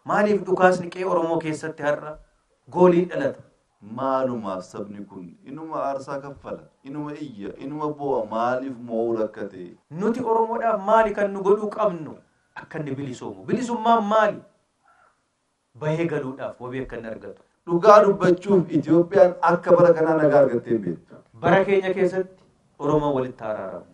Maaliif dhukaasni qe'ee Oromoo keessatti har'a gooliin dhalata? Maalumaaf sabni kun inuma aarsaa kaffala, inuma iyya, inuma boo'a maaliif moo'uu rakkate? Nuti Oromoodhaaf maali kan nu godhuu qabnu? Akka inni bilisoomu. Bilisummaan maali? Bahee galuudhaaf wabii akka inni argatu. Dhugaa dubbachuuf Itoophiyaan akka bara kanaa nagaa argattee hin beektu. Bara keenya keessatti Oromoon walitti haa araaramu.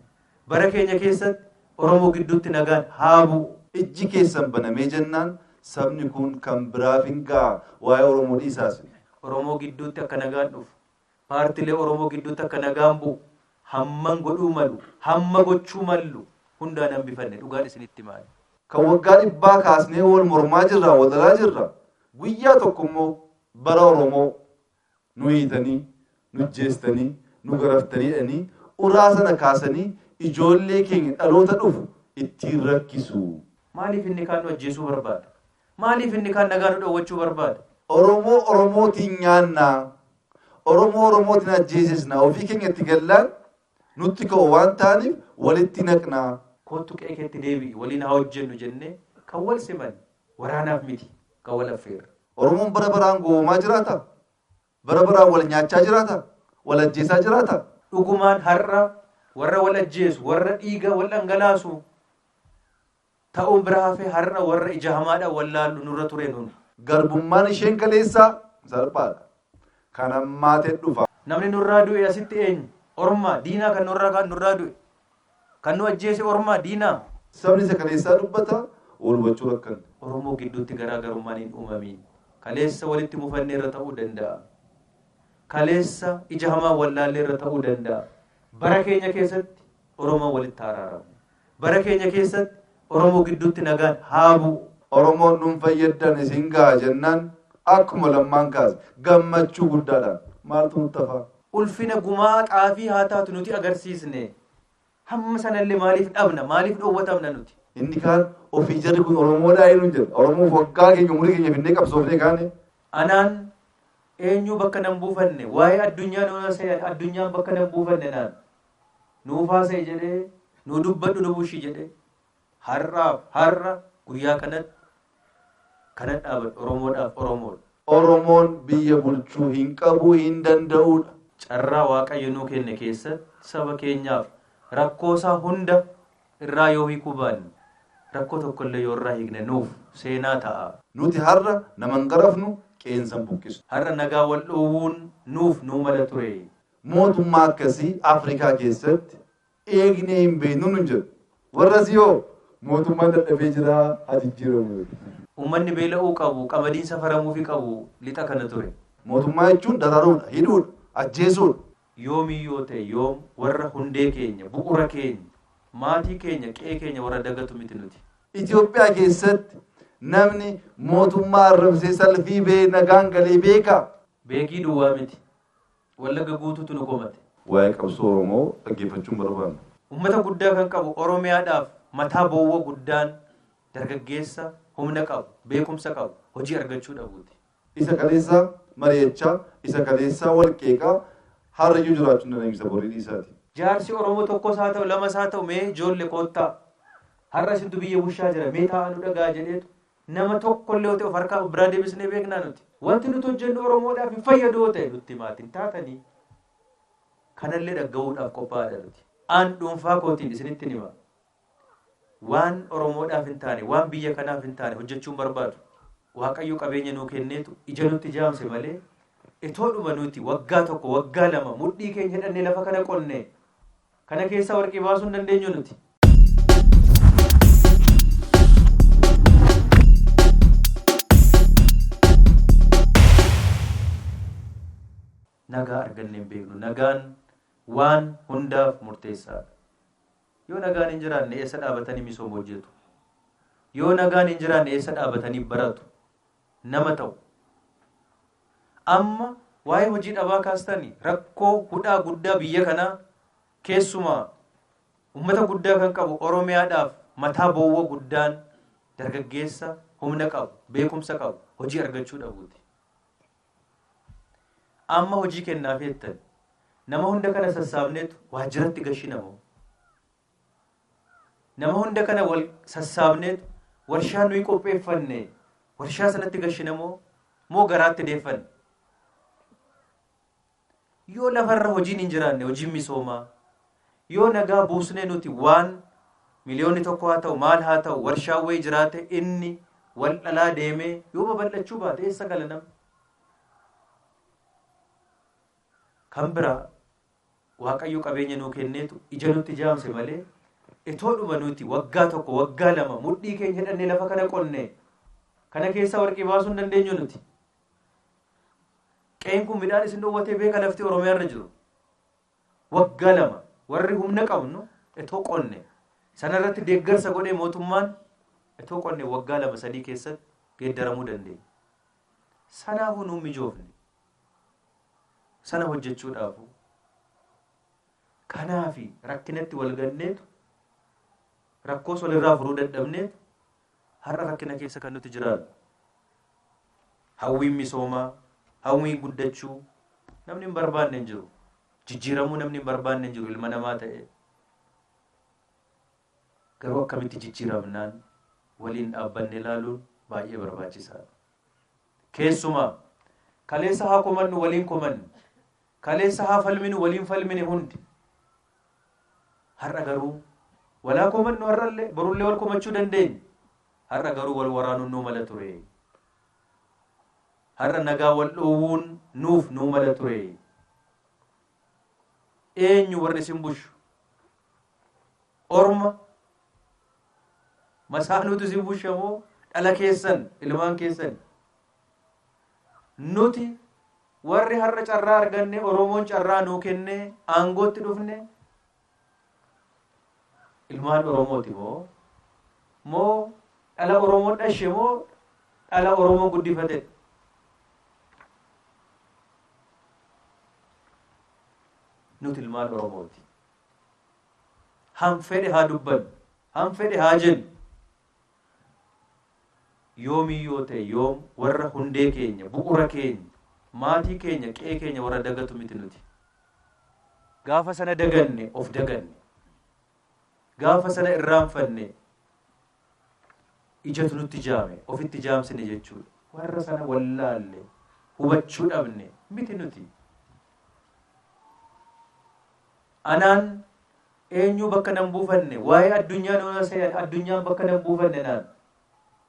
Bara keenya keessatti Oromoo gidduutti nagaan haa bu'u! Ijji keessan banamee jennaan sabni kuun kan biraaf hin ga'a. Waa'ee Oromoo dhiisaa isin. Oromoo gidduutti akka nagaan dhufu, paartilee Oromoo gidduutti akka nagaan bu'u hamman godhuu malu, hamma gochuu mallu hundaan hambifanne dhugaan isinitti hima ani. Kan waggaa dhibbaa kaasnee wal mormaa jirra, wal lolaa jirra. Guyyaa tokko immoo bara Oromoo Nu hiitanii, nujjeestanii, nu garaftanii jedhanii uraa sana kaasanii ijoollee keenya dhaloota dhufu ittiin rakkisu. Maaliif inni kaan nu ajjeesuu barbaada? Maaliif inni kaan nagaa nu dhowwachuu barbaada? Oromoo Oromootiin nyaannaa, Oromoo Oromootiin ajjeesisna, ofii keenya itti gallaan Nutti ka'oo waan taaniif walitti naqna. Koottu qe'ee keetti deebi'i waliin haa hojjennu jennee kan wal simanne waraanaaf miti kan wal affeerre. Oromoon bara baraan gowwoomaa jiraata? Bara baraan wal nyaachaa jiraata? Wal ajjeesaa jiraata? Dhugumaan har'a warra wal ajjeesu, warra dhiiga wal dhangalaasu, ta'uun bira hafee har'a warra ija hamaadhaan wallaallu nurra ture nuuni. Garbummaan isheen kaleessaa salphaadha. Kan hammaate dhufa. Namni nurraa du'e asitti eenyu? Ormaa, diinaa kan nurraa kaan nurraa du'e. Kan nu ajjeese ormaa, diinaa. Sabni isa kaleessaa dubbata, wal hubachuu rakkanne. Oromoo gidduutti garaa garummaan hin uumamiin. Kaleessa walitti mufanneerra ta'uu danda'a. Kaleessa ija hamaan wallaalleerra ta'uu danda'a. Bara keenya keessatti Oromoon walitti haa araaramu. Bara keenya keessatti Oromoo gidduutti nagaan haa bu'u. Oromoon dhuunfa yaddan isin gaha jennaan akkuma Lammaan kaase gammachuu guddaadhaan maaltu nutti hafaa? Ulfina gumaa xaafii haa taatu nuti agarsiisne. Hamma sanallee maaliif dhabna? Maaliif dhowwatamna nuti? Inni kaan ofii jarri kun Oromoodhaa eenyuun jedha. Oromoof waggaa keenya umurii keenya finnee qabsoofnee kaane. Anaan eenyuu bakka nan buufanne? Waa'ee addunyaa nuu yoo se'an addunyaan bakka nan buufanne naan. Nuuf haasa'i jedhee, nuu dubbadhu nu bulchi jedhee, har'aaf har'a guyyaa kanatti kanan dhaabadhe Oromoodhaaf Oromoodha. Oromoon biyya bulchuu hin qabu, hin danda'uudha. Carraa Waaqayyo nuu kenne keessatti saba keenyaaf rakkoo isaa hunda irraa yoo hiikuu baanne, rakkoo tokko illee yoo irraa hiikne nuuf seenaa ta'a. Nuti har'a nama hin garafnu, qe'eensa hin buqqisnu. Har'a nagaa wal dhowwuun nuuf nuu mala ture. Mootummaa akkasii Afrikaa keessatti eegnee hin beeknu nun jedhu. Warrasii hoo mootummaan dadhabee jira haa jijjiiramu jedhu. Ummanni beela'uu qabu, qamadiin safaramuufi qabu lixa kana ture. Mootummaa jechuun dararuudha, hidhuudha, ajjeesuudha. Yoomii yoo ta'e yoom warra hundee keenya, bu'ura keenya, maatii keenya, qe'ee keenya warra dagatu miti nuti. Itoophiyaa keessatti namni mootummaa arrabsee salfii ba'ee nagaan galee beekaa? Beekii duwwaa miti. Wallagga guutuutu nu komate. Waa'ee qabsoo Oromoo dhaggeeffachuu hin barbaannu. Ummata guddaa kan qabu Oromiyaadhaaf mataa bowwa guddaan dargaggeessa humna qabu, beekumsa qabu, hojii argachuu dhabuuti. Isa kaleessa mari'achaa, isa kaleessaa wal qeeqaa har'ayyuu jiraachuu hin dandeenyu isa borii dhiisaati. Jaarsi Oromoo tokkos haa ta'u lamas haa ta'u mee joolle koottaa har'a isintu biyya bushaa jira mee taa'aa nu dhaga'aa jedheetu Nama tokkollee otoo of harkaa of biraa deebisnee beeknaa nuti? Wanti nuti hojjennu Oromoodhaaf hin fayyadu yoo ta'e nutti himaati hin taatanii? Kanallee dhagga'uudhaaf qophaa'aadha nuti. Aan dhuunfaa kootiin isinitti hin hima. Waan Oromoodhaaf hin taane, waan biyya kanaaf hin taane hojjechuun barbaadu. Waaqayyo qabeenya nuu kenneetu ija nutti jaamse malee itoodhuma nuti waggaa tokko waggaa lama mudhii keenya hidhannee lafa kana qonnee Kana keessaa warqii baasuu hin dandeenyu nuti. Nagaa argannee hin beeknu. Nagaan waan hundaaf murteessaadha. Yoo nagaan hin jiraanne eessa dhaabatanii misooma hojjetu? Yoo nagaan hin jiraanne eessa dhaabatanii baratu? nama ta'u. Amma waa'ee hojii dhabaa kaastani rakkoo hudhaa guddaa biyya kanaa keessumaa ummata guddaa kan qabu Oromiyaadhaaf mataa bowwa guddaan dargaggeessa humna qabu, beekumsa qabu, hojii argachuu dhabuuti. Amma hojii kennaafii jettani nama hunda kana sassaabneetu waajjiratti gashina moo? Nama hunda kana wal sassaabneetu warshaa nuyi qopheeffanne warshaa sanatti gashinamoo moo garaatti deeffanne? Yoo lafarra hojiin hin jiraanne hojiin misoomaa yoo nagaa buusnee nuti waan miliyoonni tokko haa ta'u maal haa ta'u warshaan wayii jiraate inni wal dhalaa deemee yoo babal'achuu baate eessa gala namni? Kan biraa Waaqayyo qabeenya nuu kenneetu ija nutti jaamse malee etoodhuma nuti waggaa tokko waggaa lama mudhii keenya hidhannee lafa kana qonnee kana keessaa warqii baasuu hin dandeenyu nuti. Qe'een kun midhaan isin dhoowwatee beeka lafti Oromiyaa irra jiru. Waggaa lama warri humna qabnu etoo qonne sanarratti deeggarsa godhee mootummaan etoo qonne waggaa lama sadii keessatti geeddaramuu dandeenya. Sanaafuu nuun mijoofne. Sana hojjechuudhaafuu kanaafi rakkinatti wal ganneetu rakkoos walirraa furuu dadhabneetu har'a rakkina keessa kan nuti jiraannu. Hawwiin misoomaa, hawwiin guddachuu namni hin barbaanne hin jiru. Jijjiiramuu namni hin barbaanne hin jiru ilma namaa ta'ee. Garuu akkamitti jijjiiramnaan waliin dhaabbanne ilaaluun baay'ee barbaachisaadha. Keessumaa, kaleessa haa komannu waliin komanne, kaleessa haa falminu waliin falmine hundi, har'a garuu wal haa komannu har'allee, borullee wal komachuu dandeenya, har'a garuu wal waraanuun nuu mala ture, har'a nagaa wal dhoowwuun nuuf nuu mala ture, eenyu warri isin bushu? Orma Masaanuutu isin busha moo dhala keessan, ilmaan keessan? Nuti warri har'a carraa arganne Oromoon carraa nuu kennee aangootti dhufne ilmaan Oromooti moo moo dhala Oromoo dhashe moo dhala Oromoo guddifate? Nuti ilmaan Oromooti. Han fedhe haa dubbannu, han fedhe haa jennu, yoomii yoo ta'e yoom warra hundee keenya, bu'ura keenya, maatii keenya, qe'ee keenya warra dagatu miti nuti. Gaafa sana daganne of daganne. Gaafa sana irraanfanne ijatu nutti jaame, ofitti jaamsine jechuudha. Warra sana wallaalle, hubachuu dhabne miti nuti. Anaan eenyuu bakka nan buufanne waa'ee addunyaa nuun hasayan addunyaan bakka nan buufanne naan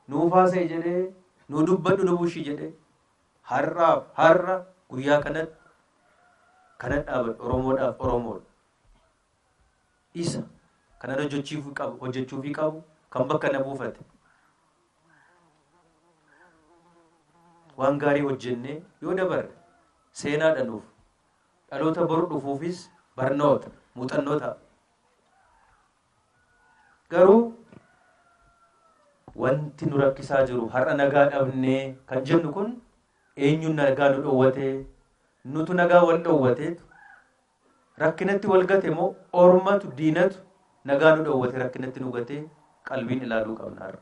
nuuf haasayi jedhee nuu dubbadhu lubushi jedhe har'aaf har'a guyyaa kanatti kanan dhaabadhu oromoodhaaf oromoodha isa kanan hojjechiifuu qabu hojjechuufii qabu kan bakka na buufate waan gaarii hojjennee yoo dabarre seenaadha nuuf Dhaloota bor dhufuufis barnoota, muuxannoo ta'a. Garuu wanti nu rakkisaa jiru har'a nagaa dhabnee kan jennu kun eenyuun nagaa nu dhowwatee nutu nagaa wal dhowwateetu rakkinatti wal gate moo ormatu diinatu nagaa nu dhowwate rakkinatti nu gatee qalbiin ilaaluu qabna har'a.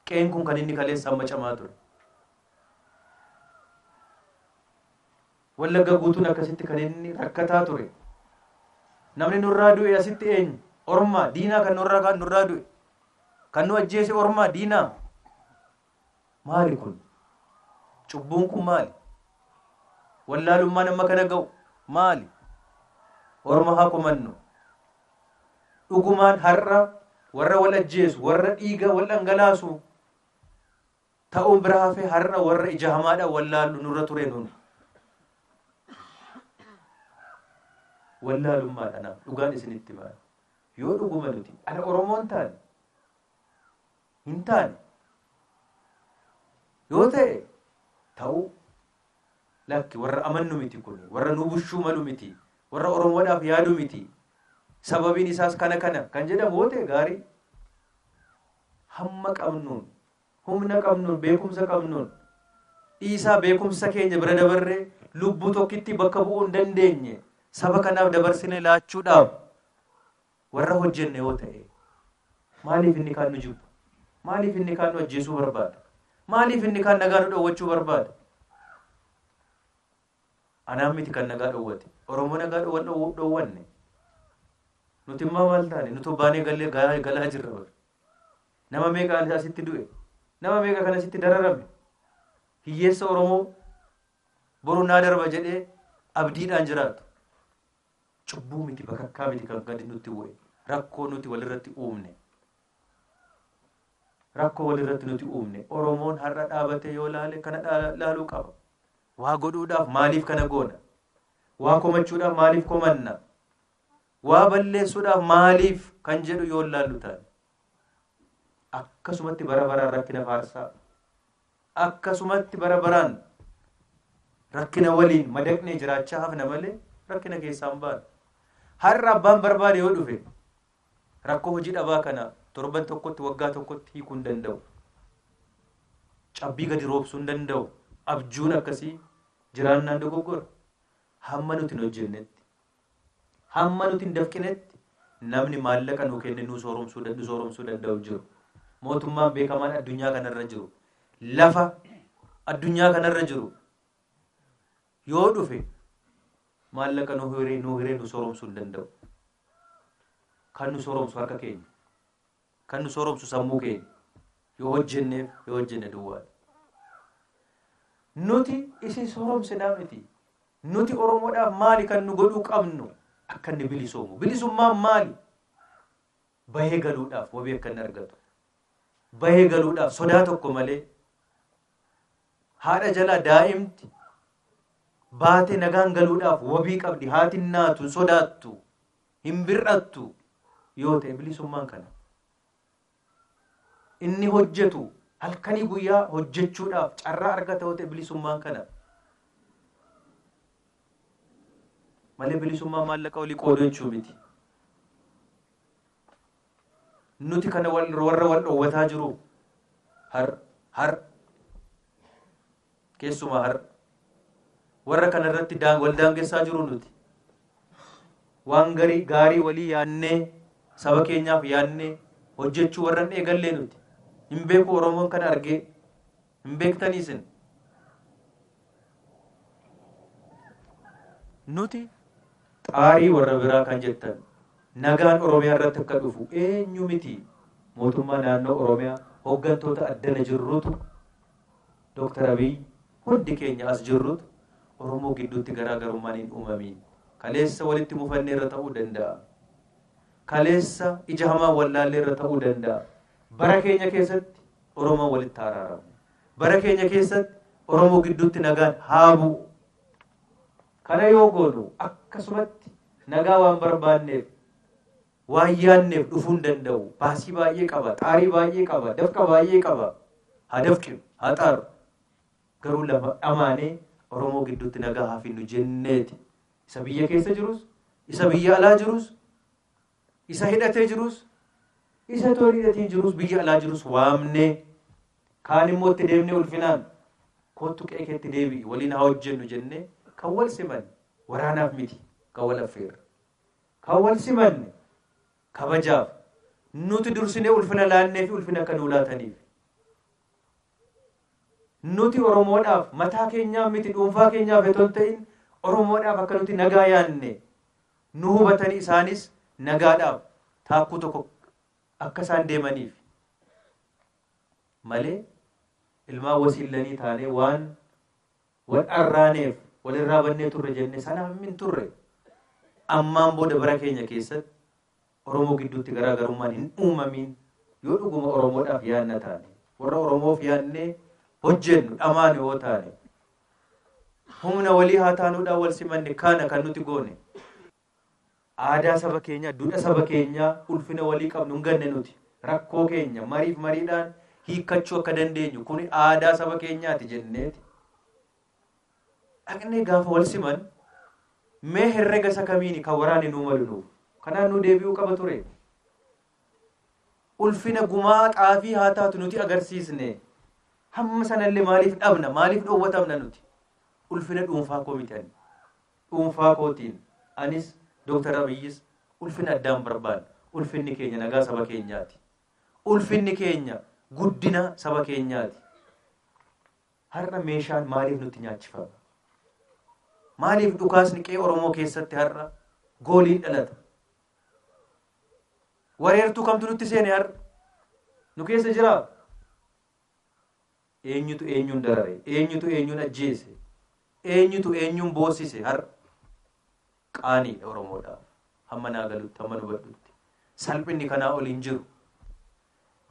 Qeen kun kan inni kaleessa amma camaa ture. Wallagga guutuun akkasitti kan inni rakkataa ture. Namni nurraa du'e asitti eenyu? Ormaa, diinaa kan nurraa kaan nurraa du'e. Kan nu ajjeese ormaa, diinaa. Maali kun? Cubbuun kun maali? Wallaalummaan amma kana ga'u maali? Orma haa komannu. Dhugumaan har'a warra wal ajjeesu, warra dhiiga wal dhangalaasu ta'uun bira hafee har'a warra ija hamaadhaan wallaallu nurra ture nuun. Wallaalummaadhaan dhugaan isinitti maal? Yoo dhuguma nuti ana Oromoon taane hin taane yoo ta'e ta'uu lakki warra amannu miti kun warra nu bushuu malu miti warra Oromoodhaaf yaadu miti sababiin isaas kana kana kan jedhamu yoo ta'e gaarii hamma qabnuun Humna qabnuun, beekumsa qabnuun dhiisaa beekumsa keenya bira dabarree lubbuu tokkittii bakka bu'uu hin dandeenye saba kanaaf dabarsinee laachuudhaaf warra hojjenne yoo ta'e maaliif inni kaan nu jibba? Maaliif inni kaan nu ajjeesuu barbaada? Maaliif inni kaan nagaa nu dhowwachuu barbaada? Anaan miti kan nagaa dhowwate. Oromoo nagaa dhowwan dhowwanne. Nuti immoo maal taane? Nuti baanee gallee galaa jirra. Nama meeqa kan asitti du'e? Nama meeqa kan asitti dararame? Hiyyeessa Oromoo boru naa darba jedhee abdiidhaan jiraatu. Cubbuu miti bakakkaa miti kan gadi nutti bu'e. Rakkoo nuti walirratti uumne. Rakkoo walirratti nuti uumne. Oromoon har'a dhaabatee yoo laale kana dhaa- laaluu qaba. Waa godhuudhaaf maaliif kana goona? Waa komachuudhaaf maaliif komanna? Waa balleessuudhaaf maaliif kan jedhu yoo laallu taane akkasumatti bara baraan rakkina faarsaa akkasumatti bara baraan rakkina waliin madaqnee jiraachaa hafna malee rakkina keessaan baana. Har'a abbaan barbaade yoo dhufe rakkoo hojii dhabaa kana torban tokkotti waggaa tokkotti hiikuu hin danda'u. Cabbii gadi roobsuu hin danda'u. Abjuun akkasii jiraannaan dogoggora. Hamma nuti hin hojjennetti Hamma nuti hin dafqinetti namni maallaqa nuu kenne nuu sooromsuu nu sooromsuu danda'u hin jiru. Mootummaan beekamaan addunyaa kanarra jiru lafa addunyaa kanarra jiru yoo dhufe maallaqa nuu hiree nuu hiree nu sooromsuu hin danda'u. Kan nu sooromsu harka keenya. Kan nu sooromsu sammuu keenya. Yoo hojjenneef yoo hojjenne duwwaadha. Nuti isin sooromsinaa miti. Nuti Oromoodhaaf maali kan nu godhuu qabnu akka inni bilisoomu? Bilisummaan maali? Bahee galuudhaaf wabii akka inni argatu. Bahee galuudhaaf sodaa tokko malee haadha jalaa daa'imti baatee nagaan galuudhaaf wabii qabdi. Haatiin naatu hin sodaattu. hin bir'attu yoo ta'e bilisummaan kana inni hojjetu halkanii guyyaa hojjechuudhaaf carraa argata yoo ta'e bilisummaan kana malee bilisummaa maallaqa olii qooduu jechuu miti. Nuti kana warra wal dhoowwataa jiru har har Keessumaa har'a warra kana irratti daan- wal daangessaa jiru nuti. Waan garii gaarii walii yaannee saba keenyaaf yaannee hojjechuu warra hin eegallee nuti. Hin beeku Oromoon kana argee hin beektanii isin. Nuti xaarii warra biraa kan jettan nagaan Oromiyaa irratti akka dhufu eenyu miti mootummaa naannoo Oromiyaa hooggantoota addana jirrutu Dr. Abiy hundi keenya as jirrutu Oromoo gidduutti garaa garummaan hin uumamiin. Kaleessa walitti mufannee irra ta'uu danda'a. Kaleessa ija hamaan wallaallee irra ta'uu danda'a. Bara keenya keessatti Oromoon walitti haa araaramu. Bara keenya keessatti Oromoo gidduutti nagaan haa bu'u. Kana yoo goonu akkasumatti nagaa waan barbaanneef Waan yaadneef dhufuu hin danda'u. Baasii baay'ee qaba, xaarii baay'ee qaba, dafqa baay'ee qaba. Haa dafqinu, haa xaaru. Garuu lafa dhamaanee Oromoo gidduutti nagaa haa finnu jenneeti. Isa biyya keessa jirus, isa biyya alaa jirus, isa hidhatee jirus, isa toon hidhatiin jirus, biyya alaa jirus waamnee kaan immoo itti deemnee ulfinaan kootu qe'ee keetti deebi'i waliin haa hojjennu jennee kan wal siman waraanaaf miti kan wal affeerre. Kan wal simanne kabajaaf nuti dursinee ulfina laanneefi ulfina akka nuu laataniif. Nuti Oromoodhaaf mataa keenyaaf miti dhuunfaa keenyaaf otoo hin ta'in Oromoodhaaf akka nuti nagaa yaanne nu hubatanii isaanis nagaadhaaf taakkuu tokko akka isaan deemaniif malee ilmaan wasiillanii taanee waan Wan dharraaneef walirraa bannee turre jenne sana hin turre. Ammaan booda bara keenya keessatti Oromoo gidduutti garaa garummaan hin uumamiin yoo dhuguma Oromoodhaaf yaanna taane, warra Oromoof yaannee hojjennu, dhamaanu yoo taane, humna walii haa taanuudhaan wal simanne kaana kan nuti goone. Aadaa saba keenyaa, dudha saba keenyaa, ulfina walii qabnu hin ganne nuti. Rakkoo keenya mariif mariidhaan hiikkachuu akka dandeenyu kuni aadaa saba keenyaati jenneeti. Dhaqnee gaafa wal siman mee herrega isa kamiini kan waraanni nuu malu nuuf. Kanaan nuu deebi'uu qaba ture. Ulfina gumaa xaafii haa taatu nuti agarsiisne. Hamma sanallee maaliif dhabna? Maaliif dhowwatamna nuti? Ulfina dhuunfaa koo miti ani. Dhuunfaa kootiin anis Dr. Abiyyis ulfina addaan barbaanna. Ulfinni keenya nagaa saba keenyaati. Ulfinni keenya guddina saba keenyaati. Har'a meeshaan maaliif nutti nyaachifama? Maaliif dhukaasni qe'ee Oromoo keessatti har'a gooliin dhalata? Wareertuu kamtu nutti seene har'a? Nu keessa jiraa? Eenyutu eenyuun darare? Eenyutu eenyuun ajjeese? Eenyutu eenyuun boossise har'a? Qaaniidha Oromoodhaaf. Hamma naa galutti, hamman hubadhutti. Salphinni kanaa ol hin jiru.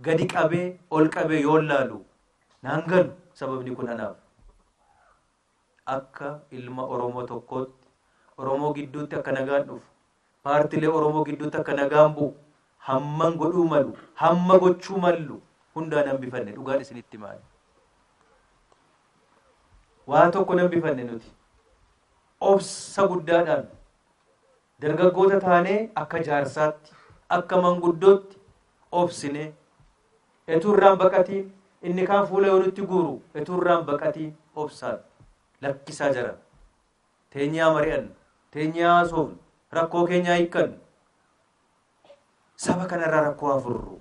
Gadi qabee, ol qabee yoon laalu naan galu sababni kun anaaf. akka ilma Oromoo tokkootti Oromoo gidduutti akka nagaan dhufu, paartilee Oromoo gidduutti akka nagaan bu'u hamman godhuu malu, hamma gochuu mallu hundaan hambifanne dhugaan isinitti himaani. Waa tokko hin hambifanne nuti. Obsa guddaadhaan dargaggoota taanee akka jaarsaatti, akka manguddootti obsinee Etuu irraan baqatii inni kaan fuula yoo nutti guuru etuu irraan baqatii obsaan lakkisaa jara teenyee haa mari'annu teenyee haa haasofnu rakkoo keenya haa hiikkannu saba kanarraa rakkoo haa furru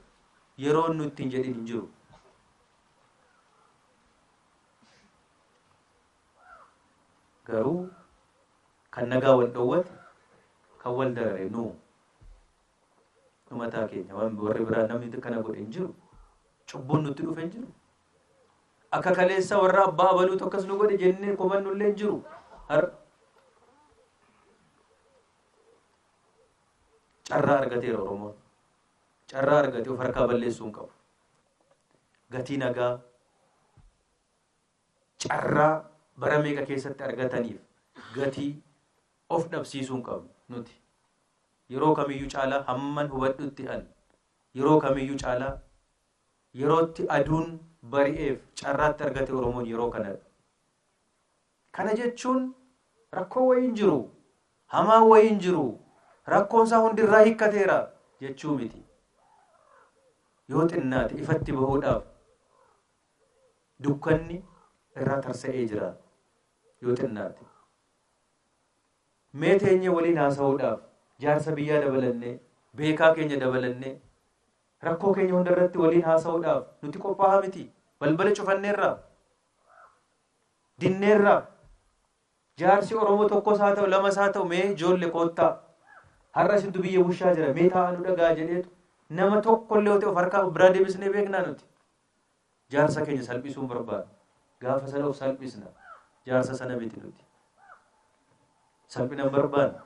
yeroon nutti hin jedhin hin jiru. Garuu kan nagaa wal dhoowwate kan wal darare nuu Umataa keenya waan warri biraa namni kana godhe hin jiru. Cubbuun nutti dhufe hin jiru. Akka kaleessa warra abbaa abaluutu akkas nu godhe jennee komannu illee hin jiru. Har carraa argateera Oromoon. Carraa argate of harkaa balleessuu hin qabu. Gatii nagaa carraa bara meeqa keessatti argataniif gatii of dhabsiisuu hin qabnu. Nuti yeroo kamiyyuu caalaa hamman hubadhutti an yeroo kamiyyuu caalaa yerootti aduun bari'eef carraatti argate Oromoon yeroo kanadha. Kana jechuun rakkoo wayii hin jiru, hamaa wayii hin jiru, rakkoon isaa hundi irraa hiikkateera jechuu miti. Yoo xinnaate ifatti bahuudhaaf dukkanni irraa tarsa'ee jira yoo xinnaate. Mee teenyee waliin haasa'uudhaaf jaarsa biyyaa dabalannee, beekaa keenya dabalannee, rakkoo keenya hunda irratti waliin haasa'uudhaaf nuti qophaa'aa miti. Balbala cufanneerraa, dinneerraa, jaarsi Oromoo tokkos haa ta'u lamas haa ta'u mee ijoolle koottaa har'a isintu biyya bushaa jira mee taa'aa nu dhagaa jedheetu nama tokkollee yoo ta'e of harkaa of biraa deebisnee beeknaa nuti. Jaarsa keenya salphisuu hin barbaannu. Gaafa sana of salphisna. Jaarsa sana miti nuti. Salphina hin barbaannu.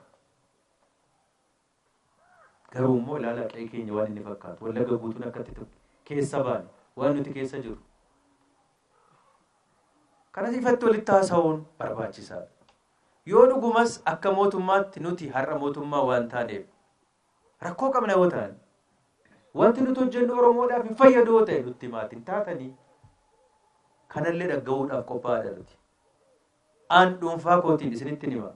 Garuu immoo ilaalaa qe'ee keenya waan inni fakkaatu. Wallagga guutuun akkatti ture. Keessa baane. Waan nuti keessa jiru. Kanas ifatti walitti haasa'uun barbaachisaadha. Yoo dhugumas akka mootummaatti nuti har'a mootummaa waan taaneef Rakkoo qabna yoo taane. Wanti nuti hojjennu Oromoodhaaf hin fayyadu yoo ta'e nutti himaati hin taatanii. Kanallee dhagga'uudhaaf qophaa'aadha nuti. Aan dhuunfaa kootiin isinitti hima.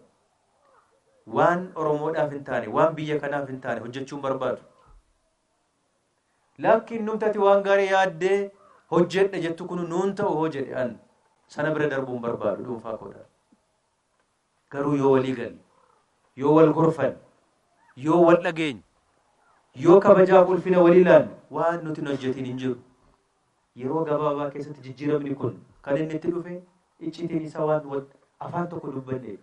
Waan Oromoodhaaf hin taane, waan biyya kanaaf hin taane hojjechuu hin barbaadu. Laakkiin numtati waan gaarii yaaddee hojjedha jettu kun nuun ta'u hoo jedhe an sana bira darbuu hin barbaadu dhuunfaa koodhaan. Garuu yoo walii galle, yoo wal gorfanne, yoo wal dhageenye, yoo kabajaaf ulfina walii laanne waan nuti hin hojjetiin hin jiru. Yeroo gabaabaa keessatti jijjiiramni kun kan inni itti dhufe icciitiin isaa waan wal afaan tokko dubbanneef.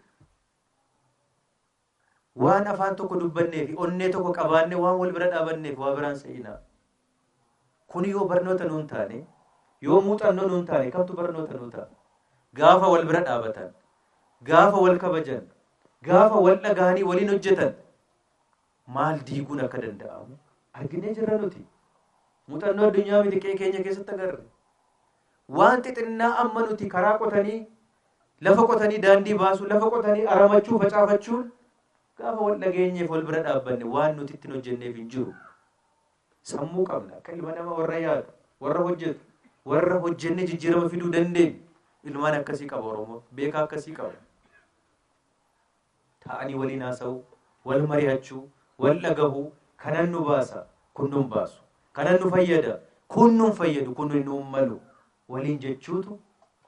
Waan afaan tokko dubbannee fi onnee tokko qabaannee waan wal bira dhaabanneef waa biraan se'inaa. Kun yoo barnoota nuun taane, yoo muuxannoo nuun taane kamtu barnoota nuu ta'a? Gaafa wal bira dhaabatan, gaafa wal kabajan, gaafa wal dhagahanii waliin hojjetan maal diiguun akka danda'amu arginee jirra nuti. Muuxannoo addunyaa miti qe'ee keenya keessatti agarre. Waan xixinnaa amma nuti karaa qotanii, lafa qotanii daandii baasuu, lafa qotanii aramachuu, facaafachuun Gaafa wal dhageenyeef wal bira dhaabbanne waan nuti ittin hojjenneef hin jiru. Sammuu qabna akka ilma nama warra yaadu, warra hojjetu, warra hojjennee jijjiirama fiduu dandeenyu. Ilmaan akkasii qaba Oromoon. Beekaa akkasii qaba. Taa'anii waliin haasa'uu, wal mari'achuu, wal dhagahuu kanan nu baasa kun nun baasu. Kanan nu fayyada kun nun fayyadu kun nun malu. waliin jechuutu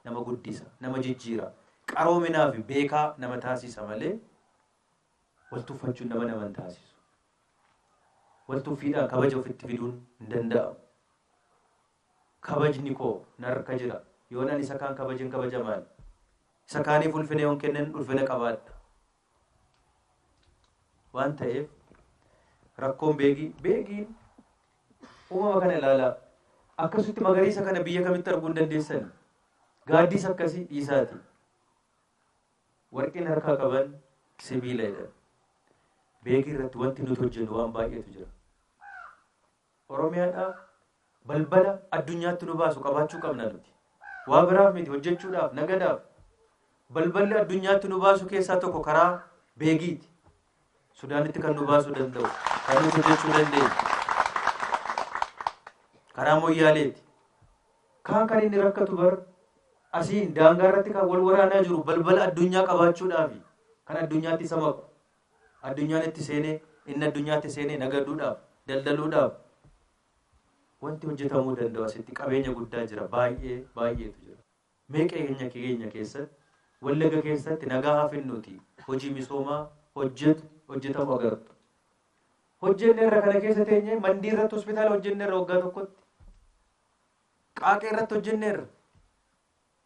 nama guddisa, nama jijjiira, qaroominaa fi beekaa nama taasisa malee wal tuffachuun nama nama hin taasisu. Wal tuffiidhaan kabaja ofitti fiduun hin danda'amu. Kabajni koo narka jira. Yoon ani isa kaan kabajen kabajamaan. Isa kaaniif ulfina yoon kennen ulfina qabaadha. waan ta'eef rakkoon beegii beegiin uumama kana ilaalaa akkasitti magariisa kana biyya kamitti arguu hin dandeessan gaaddiis akkasii dhiisaati warqiin harkaa qaban sibiila jedhan beegii irratti wanti nuti hojjennu waan baay'eetu jira Oromiyaadhaaf balbala addunyaatti nu baasu qabaachuu qabna nuti. Waa biraaf miti hojjechuudhaaf, nagadaaf. Balballi addunyaatti nu baasu keessaa tokko karaa Beegiiti. Sudaanitti kan nu baasuu danda'u, kan nuti hojjechuu dandeenyu. Karaa Moyyaaleeti. Kaan kan inni rakkatu bar asiin daangaa irratti kan wal waraanaa jiru balbala addunyaa qabaachuudhaafi kan addunyaatti isa maku Addunyaan itti seene, inni addunyaatti seene nagaduudhaaf, daldaluudhaaf wanti hojjetamuu danda'u asitti qabeenya guddaa jira. Baay'ee baay'eetu jira. Mee qeenya keenya keessatti, Wallaga keessatti nagaa haa finnuuti hojii misoomaa hojjetu hojjetamu agartu. Hojjenneerra kana keessa teenyee mandii irratti hospitaala hojjenneerra waggaa tokkotti. Qaaqee irratti hojjenneerra.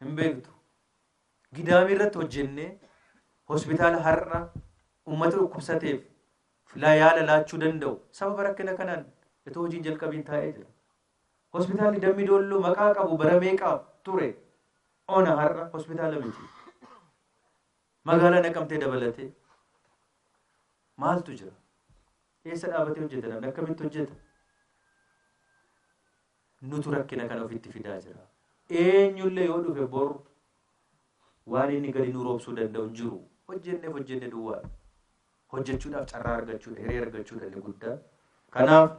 Hin beektu. Gidaamii irratti hojjennee hospitaala har'a ummata dhukkubsateef fla yaala laachuu danda'u sababa rakkina kanaan itoo hojiin jalqabiin taa'ee jira. Hospitaalli Dammi Doolloo maqaa qabu bara meeqaaf ture ona har'a hospitaala miti. Magaalaa Naqamtee dabalatee maaltu jira? Eessa dhaabatee hojjeta namni akkamitti hojjeta? Nutu rakkina kana ofitti fidaa jira. Eenyullee yoo dhufe bor waan inni gadi nu roobsuu danda'u hin jiru. Hojjenneef hojjenne duwwaadha. Hojjechuudhaaf carraa argachuudha, hiree argachuudha inni guddaan. Kanaaf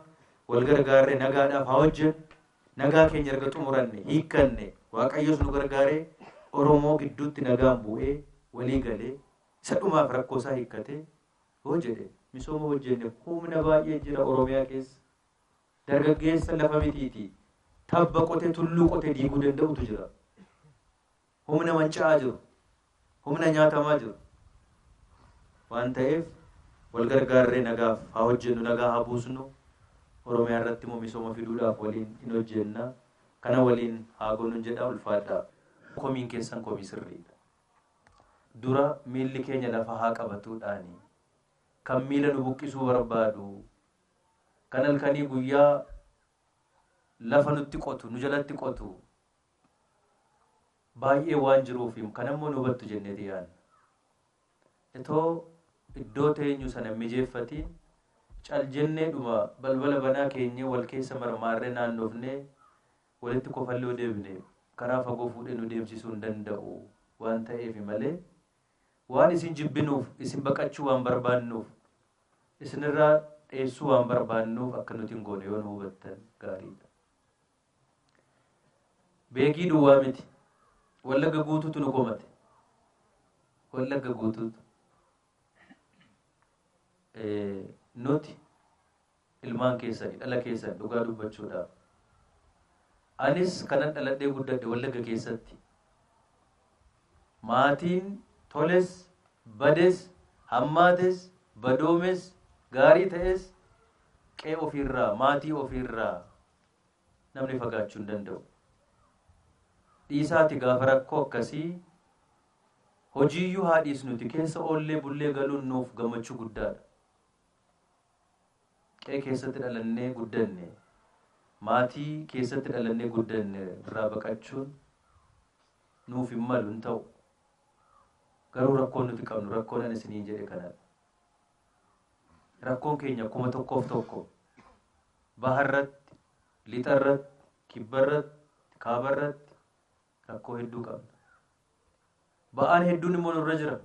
wal gargaarree nagaadhaaf haa hojjennu. Nagaa keenya erga xumuranne, hiikkanne, Waaqayyos nu gargaaree Oromoo gidduutti nagaan bu'ee, walii galee, isa dhumaaf rakkoo isaa hiikkatee yoo jedhe misooma hojjenne humna baay'ee jira Oromiyaa keessa. Dargaggeessa lafa mitiitii tabba qote tulluu qote diiguu danda'utu jira. Humna manca'aa jiru, humna nyaatamaa jiru waan ta'eef wal gargaarree nagaaf haa hojjennu, nagaa haa buusnu, Oromiyaa irratti immoo misooma fiduudhaaf waliin in hojjenna. Kana waliin haa goonun jedha. Ulfaadhaa! Komiin keessan komii sirriidha. Dura miilli keenya lafa haa qabatuudhaani. Kan miila nu buqqisuu barbaadu Kan halkanii guyyaa lafa nutti qotu, nu jalatti qotu baay'ee waan jiruuf kanammoo nu hubattu jenneeti yaadna. Itoo iddoo teenyu sana hin mijeeffatiin cal jennee dhuma balbala banaa keenyee wal keessa marmaarree naannofnee walitti kofallee yoo deebine karaa fagoo fuudhee nu deemsisuu hin danda'u waan ta'eef malee Waan isin jibbinuuf, isin baqachuu waan barbaannuuf, isinirraa dheessuu waan barbaannuuf akka nuti hin goone yoo nu hubattan gaariidha. Beegii duwwaa miti. Wallagga guutuutu nu komate. Wallagga guutuutu. Nuti ilmaan keessani dhala keessan dhugaa dubbachuudhaaf anis kanan dhaladhee guddadhe wallagga keessatti maatiin toles bades hammaates badoomes gaarii ta'es qee ofiirraa maatii ofiirraa namni fagaachuu hin danda'u dhiisaati gaafa rakkoo akkasii hojiiyyuu haa dhiisnuti keessa oollee bullee galuun nuuf gammachuu guddaadha Qe'ee keessatti dhalannee guddanne, maatii keessatti dhalannee guddanne irraa baqachuun nuuf hin malu, hin ta'u. Garuu rakkoon nuti qabnu rakkoon ani isiniin jedhe kanadha. Rakkoon keenya kuma tokkoof tokko. Baharratti, lixarratti, kibbarratti, kaabarratti, Rakkoo hedduu qabna. Ba'aan hedduun immoo nurra jira.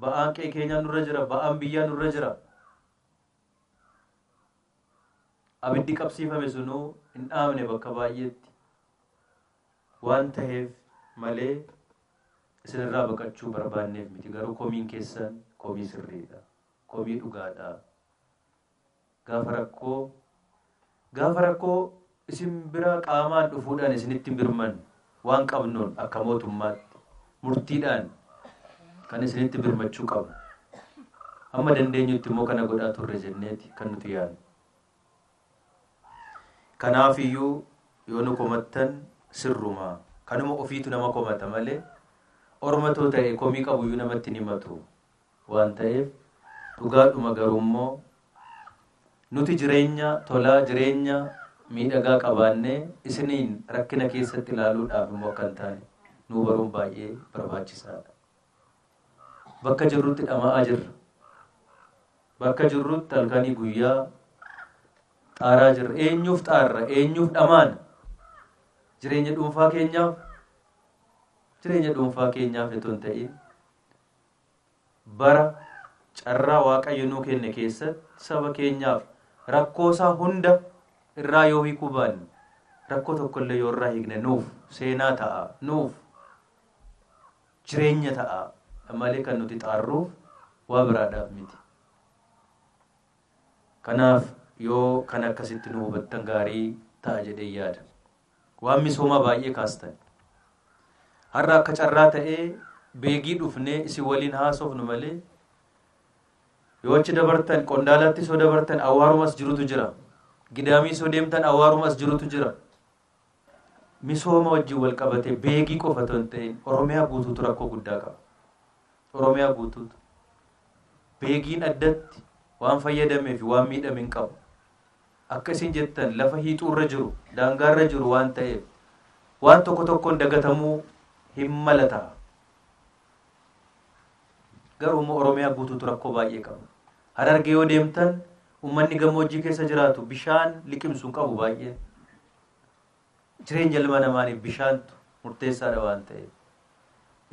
Ba'aan qe'ee keenyaa nurra jira. Ba'aan biyyaa nurra jira. Abiddi qabsiifame sunuu hin dhaamne bakka baay'eetti. Waan taheef malee isinirraa baqachuu barbaanneef miti. Garuu komiin keessan komii sirriidha. Komii dhugaadha. Gaafa rakkoo Gaafa rakkoo isin bira qaamaan dhufuudhaan isinitti hin birman waan qabnuun akka mootummaatti murtiidhaan kan isinitti birmachuu qabnu. Amma dandeenyutti immoo kana godhaa turre jenneeti kan nuti yaadnu. Kanaaf iyyuu yoo nu komattan sirruma kanuma ofiitu nama komata malee ormatoo ta'e komii qabu iyyuu namatti hin himatu. waan ta'eef dhugaadhuma garuummoo nuti jireenya tolaa jireenya miidhagaa qabaannee isiniin rakkina keessatti ilaaluudhaaf immoo akka hin taane nuu baruun baay'ee barbaachisaadha. Bakka jirrutti dhama'aa jirra. Bakka jirrutti halkanii guyyaa xaaraa jirra. Eenyuuf xaarra? Eenyuuf dhamaana? Jireenya dhuunfaa keenyaaf jireenya dhuunfaa keenyaaf itoo hin ta'in Bara carraa Waaqayyo nuu kenne keessatti saba keenyaaf rakkoo isaa hunda irraa yoo hiikuu baanne, rakkoo tokko illee yoo irraa hiikne nuuf seenaa ta'a, nuuf jireenya ta'a malee kan nuti xaarruuf waa biraadhaaf miti. Kanaaf yoo kan akkasitti nu hubattan gaarii ta'a jedhee yaada. Waan misoomaa baay'ee kaastan. Har'a akka carraa ta'ee beegii dhufnee isin waliin haasofnu malee yoo achi dabartan qondaalaatti soo dabartan awwaarumas jirutu jira. Gidaamii soo deemtan awwaarumas jirutu jira. Misooma wajjin wal qabatee beegii qofa otoo hin ta'in Oromiyaa guutuutu rakkoo guddaa qaba. Oromiyaa guutuutu. Beegiin addatti waan fayyadamee fi waan miidhame hin qabu. Akka isin jettan lafa hiixuu irra jiru, daangaa irra jiru waan ta'eef waan tokko tokkoon dagatamuu hin mala ta'a. Garuu immoo Oromiyaa guutuutu rakkoo baay'ee qaba. Harargee yoo deemtan ummanni gammoojjii keessa jiraatu bishaan liqimsu hin qabu baay'een. Jireenya ilma namaaniif bishaantu murteessaadha waan ta'eef.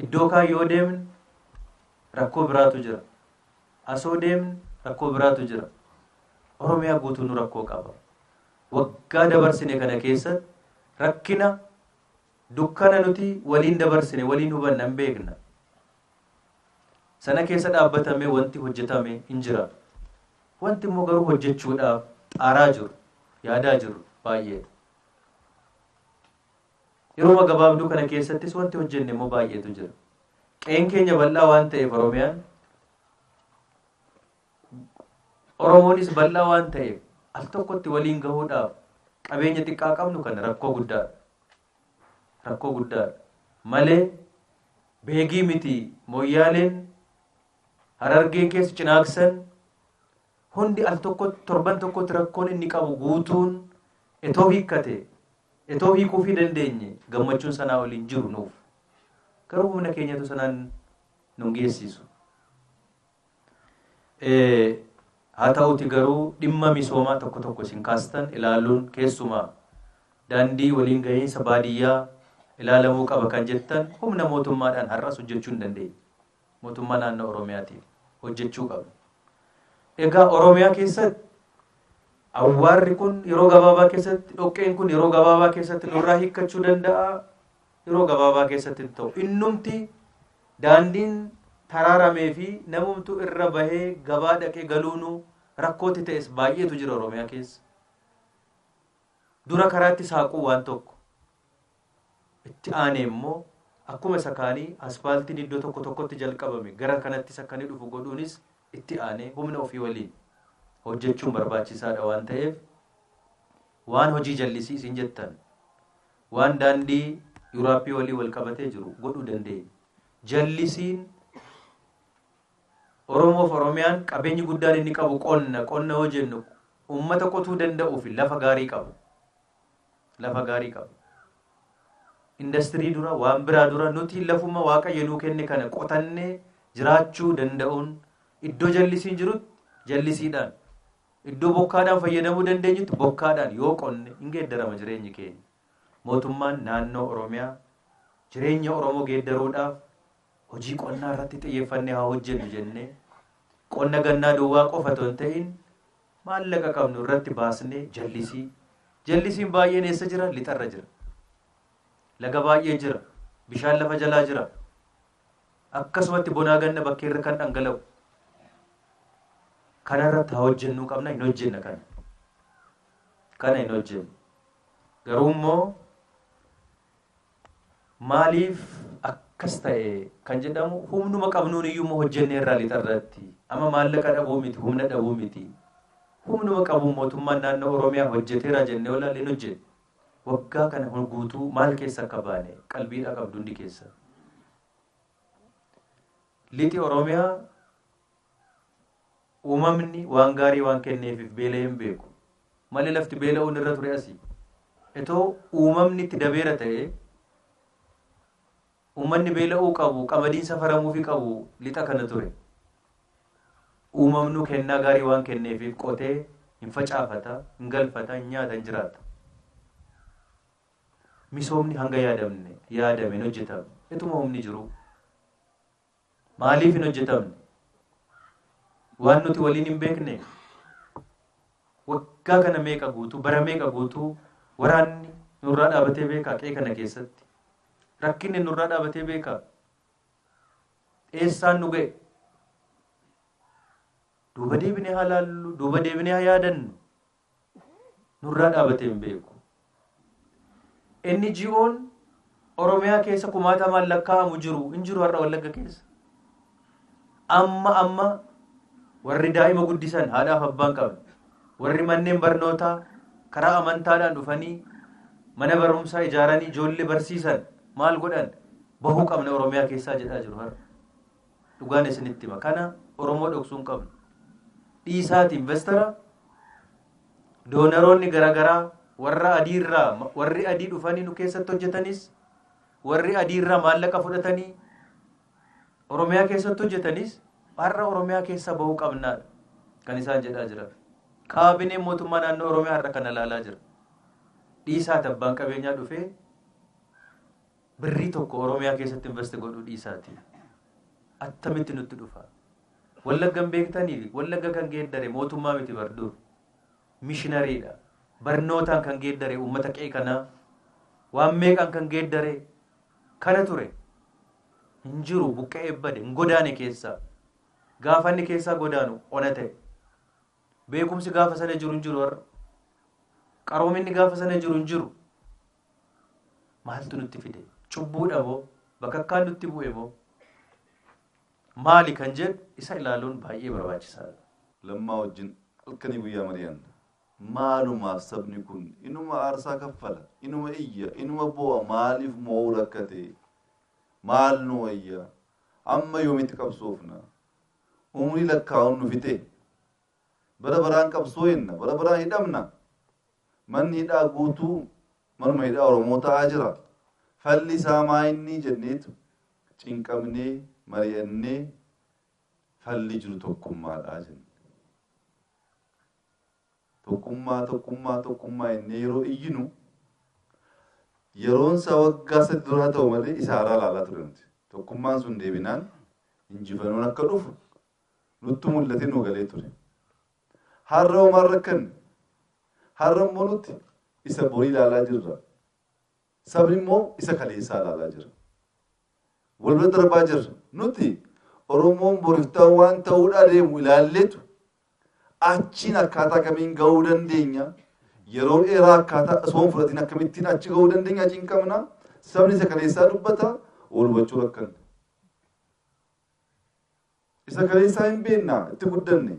Iddoo kaan yoo deemne rakkoo biraatu jira. Asoo deemne rakkoo biraatu jira. Oromiyaa guutuu nu rakkoo qaba. Waggaa dabarsine kana keessatti rakkina dukkana nuti waliin dabarsine waliin hubanna hin beekna. Sana keessa dhaabbatamee wanti hojjetame hin jira. Wanti immoo garuu hojjechuudhaaf xaaraa jiru, yaadaa jiru baay'eedha. Yeroo gabaabduu kana keessattis wanti hojjenne immoo baay'eetu jira. Qe'een keenya bal'aa waan ta'eef Oromiyaan Oromoonis bal'aa waan ta'eef al tokkotti waliin gahuudhaaf qabeenya xiqqaa qabnu kana rakkoo guddaadha. rakkoo guddaadha. Malee beegii miti moyyaaleen harargeen keessa cinaaksan hundi al tokkotti torban tokkotti rakkoon inni qabu guutuun etoo hiikkate etoo hiikuufii dandeenye gammachuun sanaa waliin jiru nuuf garuu humna keenyatu sanaan nun geessisu. Haa ta'uuti garuu dhimma misoomaa tokko tokko isin kaastan ilaaluun keessumaa daandii waliin gahiinsa baadiyyaa ilaalamuu qaba kan jettan humna mootummaadhaan har'as hojjechuu hin dandeenye. Mootummaa naannoo Oromiyaatiin hojjechuu qabna. Egaa Oromiyaa keessatti awwaarri kun yeroo gabaabaa keessatti dhoqqeen kun yeroo gabaabaa keessatti nurraa hiikkachuu danda'a yeroo gabaabaa keessatti hin ta'u. Innumti daandiin taraaramee fi namumtuu irra bahee gabaa dhaqee galuunuu rakkootti ta'es baay'eetu jira Oromiyaa keessa. Dura karaatti saaquu waan tokko. Itti aanee immoo akkuma isa kaanii aspaaltiin iddoo tokko tokkotti jalqabame gara kanattis akka inni dhufu godhuunis itti aanee humna ofii waliin hojjechuun barbaachisaadha waan ta'eef waan hojii jallisii isin jettan Waan daandii Yuraappii waliin wal qabatee jiru godhuu dandeenya. Jallisiin Oromoo fi Oromiyaan qabeenyi guddaan inni qabu qonna. Qonna yoo jennu uummata qotuu danda'uu fi lafa gaarii qabu. Lafa gaarii qabu. Indastirii dura waan biraa dura nuti lafuma waaqayyo nuu kenne kana qotannee jiraachuu danda'uun iddoo jallisiin jirutti jallisiidhaan Iddoo bokkaadhaan fayyadamuu dandeenyutti bokkaadhaan yoo qonne hin geeddarama jireenyi keenya. Mootummaan naannoo Oromiyaa jireenya Oromoo geeddaruudhaaf hojii qonnaa irratti xiyyeeffannee haa hojjennu jennee qonna gannaa duwwaa qofa otoo hin ta'in maallaqa qabnu irratti baasnee jallisii jallisiin baay'een eessa jira lixarra jira laga baay'ee jira bishaan lafa jalaa jira Akkasumatti bonaa ganna bakkeerra kan dhangala'u. Kanarratti haa hojjennuu qabna hin hojjenna kana. Kana hin hojjennu. Garuu immoo maaliif akkas ta'e kan jedhamu humnuma qabnuun iyyuu immoo hojjennee irraa lixarratti. Amma maallaqa dhabuu miti humna dhabuu miti. Humnuma qabuun mootummaan naannoo Oromiyaa hojjeteera jennee olaalee hin hojjennu. Waggaa kana hunda guutuu maal keessa akka baane qalbiidhaa qabdu hundi keessan. Lixi Oromiyaa uumamni waan gaarii waan kenneefiif beela'ee hin beeku. Malee lafti beela'uun irra ture asi. Itoo uumamni itti dabeera ta'ee Uummanni beela'uu qabu, qamadiin safaramuufi qabu lixa kana ture. Uumamnu kennaa gaarii waan kenneefiif qotee hin facaafata, hin galfata, hin nyaata, hin jiraata. Misoomni hanga yaadamne, yaadame, hin hojjetamne. Ituma humni jiruu. Maaliif hin hojjetamne? Waan nuti waliin hin beekne? Waggaa kana meeqa guutuu, bara meeqa guutuu waraanni nurraa dhaabatee beekaa qe'ee kana keessatti? Rakkinni nurraa dhaabatee beekaa? Eessaan nu ga'e? Duuba deebinee haa laallu, duuba deebinee haa yaadannu. nurraa dhaabatee hin beeku. NGO'n Oromiyaa keessa kumaatamaan lakkaa'amu jiru hin jiru har'a Wallagga keessa. Amma amma warri daa'ima guddisan haadhaaf abbaan qaban warri manneen barnootaa karaa amantaadhaan dhufanii mana barumsaa ijaaranii ijoollee barsiisan maal godhan bahuu qabna Oromiyaa keessaa jedhaa jiru har'a. Dhugaan isinitti hima. Kana Oromoo dhoksuu hin qabnu. Dhiisaati investara doonaroonni garaagaraa warra adiirraa warri adii dhufanii nu keessatti hojjetanis warri adiirraa maallaqa fudhatanii Oromiyaa keessatti hojjetanis har'a Oromiyaa keessa bahuu qabnaadha kan isaan jedhaa jiran. Kaabineen mootummaa naannoo Oromiyaa har'a kana ilaalaa jira. Dhiisaati abbaan qabeenyaa dhufee Birrii tokko Oromiyaa keessatti invest godhuu dhiisaatii attamitti nutti dhufa? Wallagga hin beektanii? Wallagga kan geeddare mootummaa miti bar dur. Mishinariidha. Barnootaan kan geeddare uummata qe'ee kanaa waan meeqaan kan geeddare kana ture. Hin jiru buqqa'ee bade hin godaane keessaa. Gaafa inni keessaa godaanu ona ta'e. Beekumsi gaafa sana jiru hin jiru har'a. Qaroominni gaafa sana jiru hin jiru. Maaltu nutti fide? Cubbuudha moo? Bakakkaan nutti bu'e moo? Maali kan jedhu isa ilaaluun baay'ee barbaachisaadha. Lammaa wajjin halkanii guyyaa mari'anna. Maalumaaf sabni kun inuma aarsaa kaffala, inuma iyya, inuma boo'a maaliif moo'uu rakkate? Maal nu wayya? Amma yoomitti qabsoofna? Umrii lakkaa'uun nu fixee? Bara baraan qabsooyna, bara baraan hidhamna. Manni hidhaa guutuu manuma hidhaa Oromoo ta'aa jira. Falli isaa maa inni jenneetu cinqamnee, mari'annee falli jiru tokkummaadha jenne. Tokkummaa, tokkummaa, tokkummaa jennee yeroo iyyinu yeroon isaa waggaa sadii duraa ta'u malee isa haaraa ilaalaa ture nuti. Tokkummaan sun deebinaan injifannoon akka dhufu Nuttu mul'atee nuu galee ture. Har'a hoo maal rakkanne? Har'a immoo nuti isa borii ilaalaa jirra. Sabni immoo isa kaleessaa ilaalaa jira. Wal bira darbaa jirra. Nuti Oromoon boriftaa waan ta'uudhaa deemu ilaalleetu achiin akkaataa kamiin ga'uu dandeenya? Yeroo dheeraa akkaataa osoo hin fudhatiin akkamittiin achi ga'uu dandeenya achiin qabna? Sabni isa kaleessaa dubbata wal hubachuu rakkanne. Isa kaleessaa hin beenna, itti guddanne.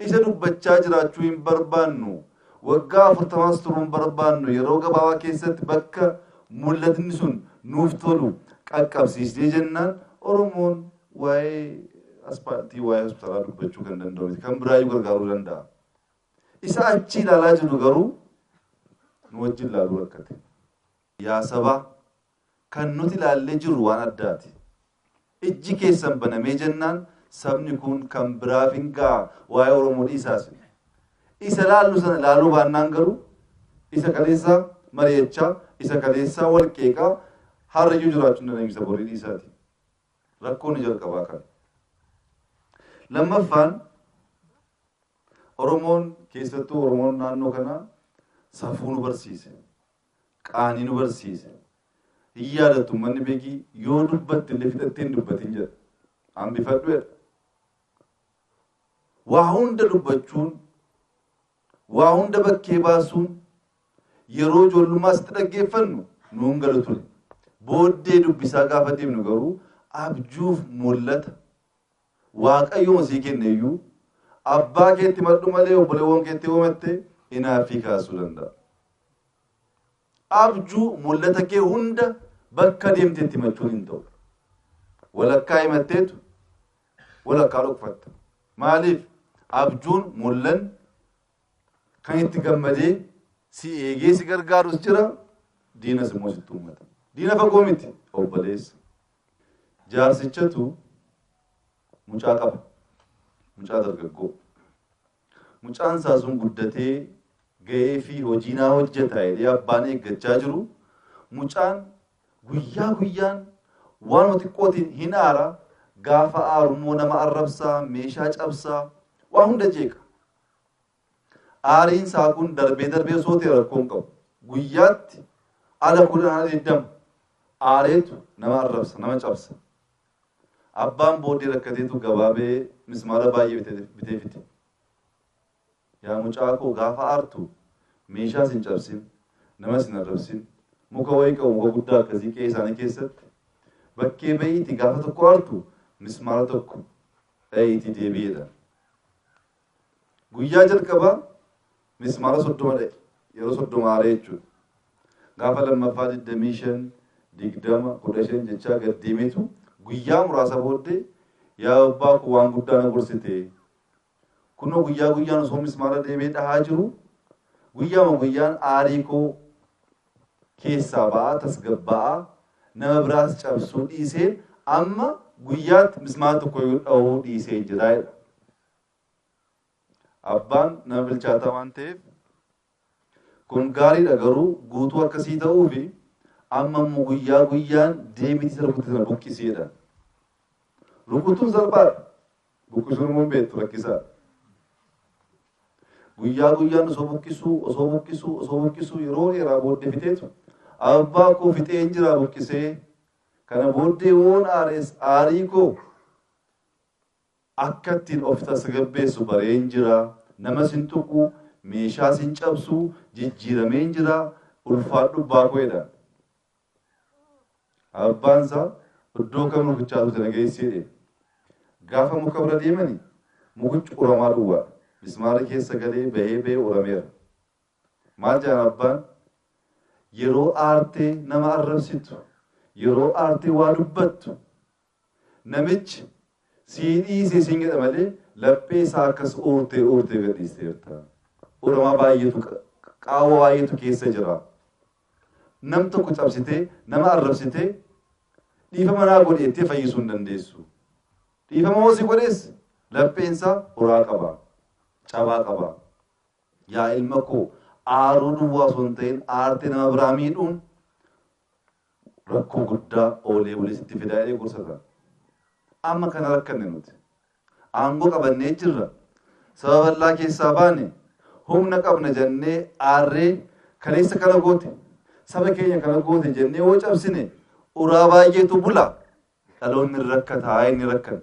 Isa dubbachaa jiraachuu hin barbaannu. Waggaa afurtamaas turuu hin barbaannu. Yeroo gabaabaa keessatti bakka mul'atni sun nuuf tolu qaqqabsiisnee jennaan Oromoon waa'ee aspaaltii, waa'ee hospitaalaa dubbachuu kan danda'u miti. Kan biraayyuu gargaaruu danda'a. Isa achi ilaalaa jiru garuu nu wajjin ilaaluu rakkate. Yaa sabaa! Kan nuti ilaallee jirru waan addaati. Ijji keessan banamee jennaan sabni kun kan biraaf hin ga'a waa'ee Oromoo dhiisaa isin. Isa ilaallu sana ilaaluu baannaan garuu isa kaleessaa mari'achaa, isa kaleessaa wal qeeqaa har'a iyyuu jiraachuu hin dandeenyu isa borii dhiisaati. Rakkoon ni jalqabaa kana. Lammaffaan Oromoon keessattuu Oromoon naannoo kanaa safuu nu barsiise. qaanii nu barsiise. Hin yaadattu ummanni Begii yoo dubbatte illee fixattee hin dubbatin jedha. Hambifadhu jedha. Waa hunda dubbachuun, waa hunda bakkee baasuun yeroo ijoollummaa sitti dhaggeeffannu nuun galu ture. Booddee dubbisaa gaafa deemnu garuu abjuuf mul'ata Waaqayyuma sii kenne iyyuu abbaa keetti himadhu malee obboleewwan keetti yoo himatte inaaffii kaasuu danda'a. Abjuu mul'ata kee hunda bakka deemteetti himachuun hin ta'u. Walakkaa himatteetu walakkaa dhokfatta. Maaliif? Abjuun mul'an kan itti gammadee si eegee si gargaarus jira diinas immoo sitti uummata. Diina fagoo miti obboleessa. Jaarsichatu mucaa qaba. Mucaa dargaggoo. Mucaan isaa sun guddatee ga'ee fi hojii naa hojjeta jedhee abbaan eeggachaa jiru mucaan guyyaa guyyaan waanuma xiqqootiin hin aara gaafa aarummoo nama arrabsaa meeshaa cabsaa waa hunda jeeqa. Aariin isaa kun darbee darbee osoo ta'e rakkoo hin qabu. Guyyaatti ala kudhan ala digdama aareetu nama arrabsa, nama cabsa. Abbaan booddee rakkateetu gabaabee mismaara baay'ee bitee- bitee fide. Yaa mucaa koo gaafa aartu meeshaa sin cabsin, nama sin arrabsin, muka wayii qabu muka guddaa akkasii qe'ee isaanii keessatti bakkee ba'iiti gaafa tokko aartu mismaara tokko dha'iitii deebi'eedha. Guyyaa jalqabaa mismaara 30 dha'e. Yeroo 30 aaree jechuudha. Gaafa lammaffaa 25, 20, 15 jechaa gad deemeetu guyyaa muraasa booddee yaa abbaa koo waan guddaa na gorsite. Kunoo guyyaa guyyaan osoo mismaara deemee dhahaa jiru guyyaama guyyaan aarii koo keessaa ba'aa tasgabbaa'aa nama biraas cabsuu dhiisee amma guyyaatti mismaara tokko yoo dhahuu dhiisee jira jedha. Abbaan nama bilchaataa waan ta'eef kun gaariidha garuu guutuu akka sii ta'uu fi amma immoo guyyaa guyyaan deebiitii isa rukutte sana buqqisii jedhan. Rukutuun salphaadha. Buqqisuun immoo hin beektu rakkisaadha. Guyyaa guyyaan osoo buqqisuu osoo buqqisuu osoo buqqisuu yeroo dheeraa booddee fixeetu abbaa koo fixeen jiraa buqqisee kana booddee woon aarees aarii koo Akka ittiin of tasgabbeessu bareen jira, namas hin tuqu, meeshaas hin cabsu, jijjiirameen jira, ulfaadhu abbaa koo jedhaan. Abbaan isaa iddoo kam mukichaa dhufte na geessi jedheen. Gaafa muka bira deemani mukichi uramaa duwwaadha. Mismaarri keessa galee bahee bahee urameera. Maal jedhan abbaan? Yeroo aartee nama arrabsitu, yeroo aartee waa dubbattu Namichi, Sii dhiise siin jedha malee laphee isaa akkas uurtee uurtee gadhiisteerta. Uramaa baay'eetu qa- qaawwa baay'eetu keessa jira. Nam tokko cabsitee, nama arrabsitee, dhiifama naa godhi jettee fayyisuu hin dandeessu. Dhiifama hoo si godhes lapheen isaa uraa qaba, cabaa qaba. Yaa ilma koo aaruu duwwaa osoo hin ta'in aartee nama biraa miidhuun Rakkoo guddaa oolee bulee sitti fida jedhee gorsa ture. Amma kana rakkanne nuti. Aangoo qabannee jirra. Saba bal'aa keessaa baane. Humna qabna jennee aarree kaleessa kana goote, saba keenya kana goote jennee yoo cabsine uraa baay'eetu bula. Dhaloonni hin rakkataa inni rakkanne.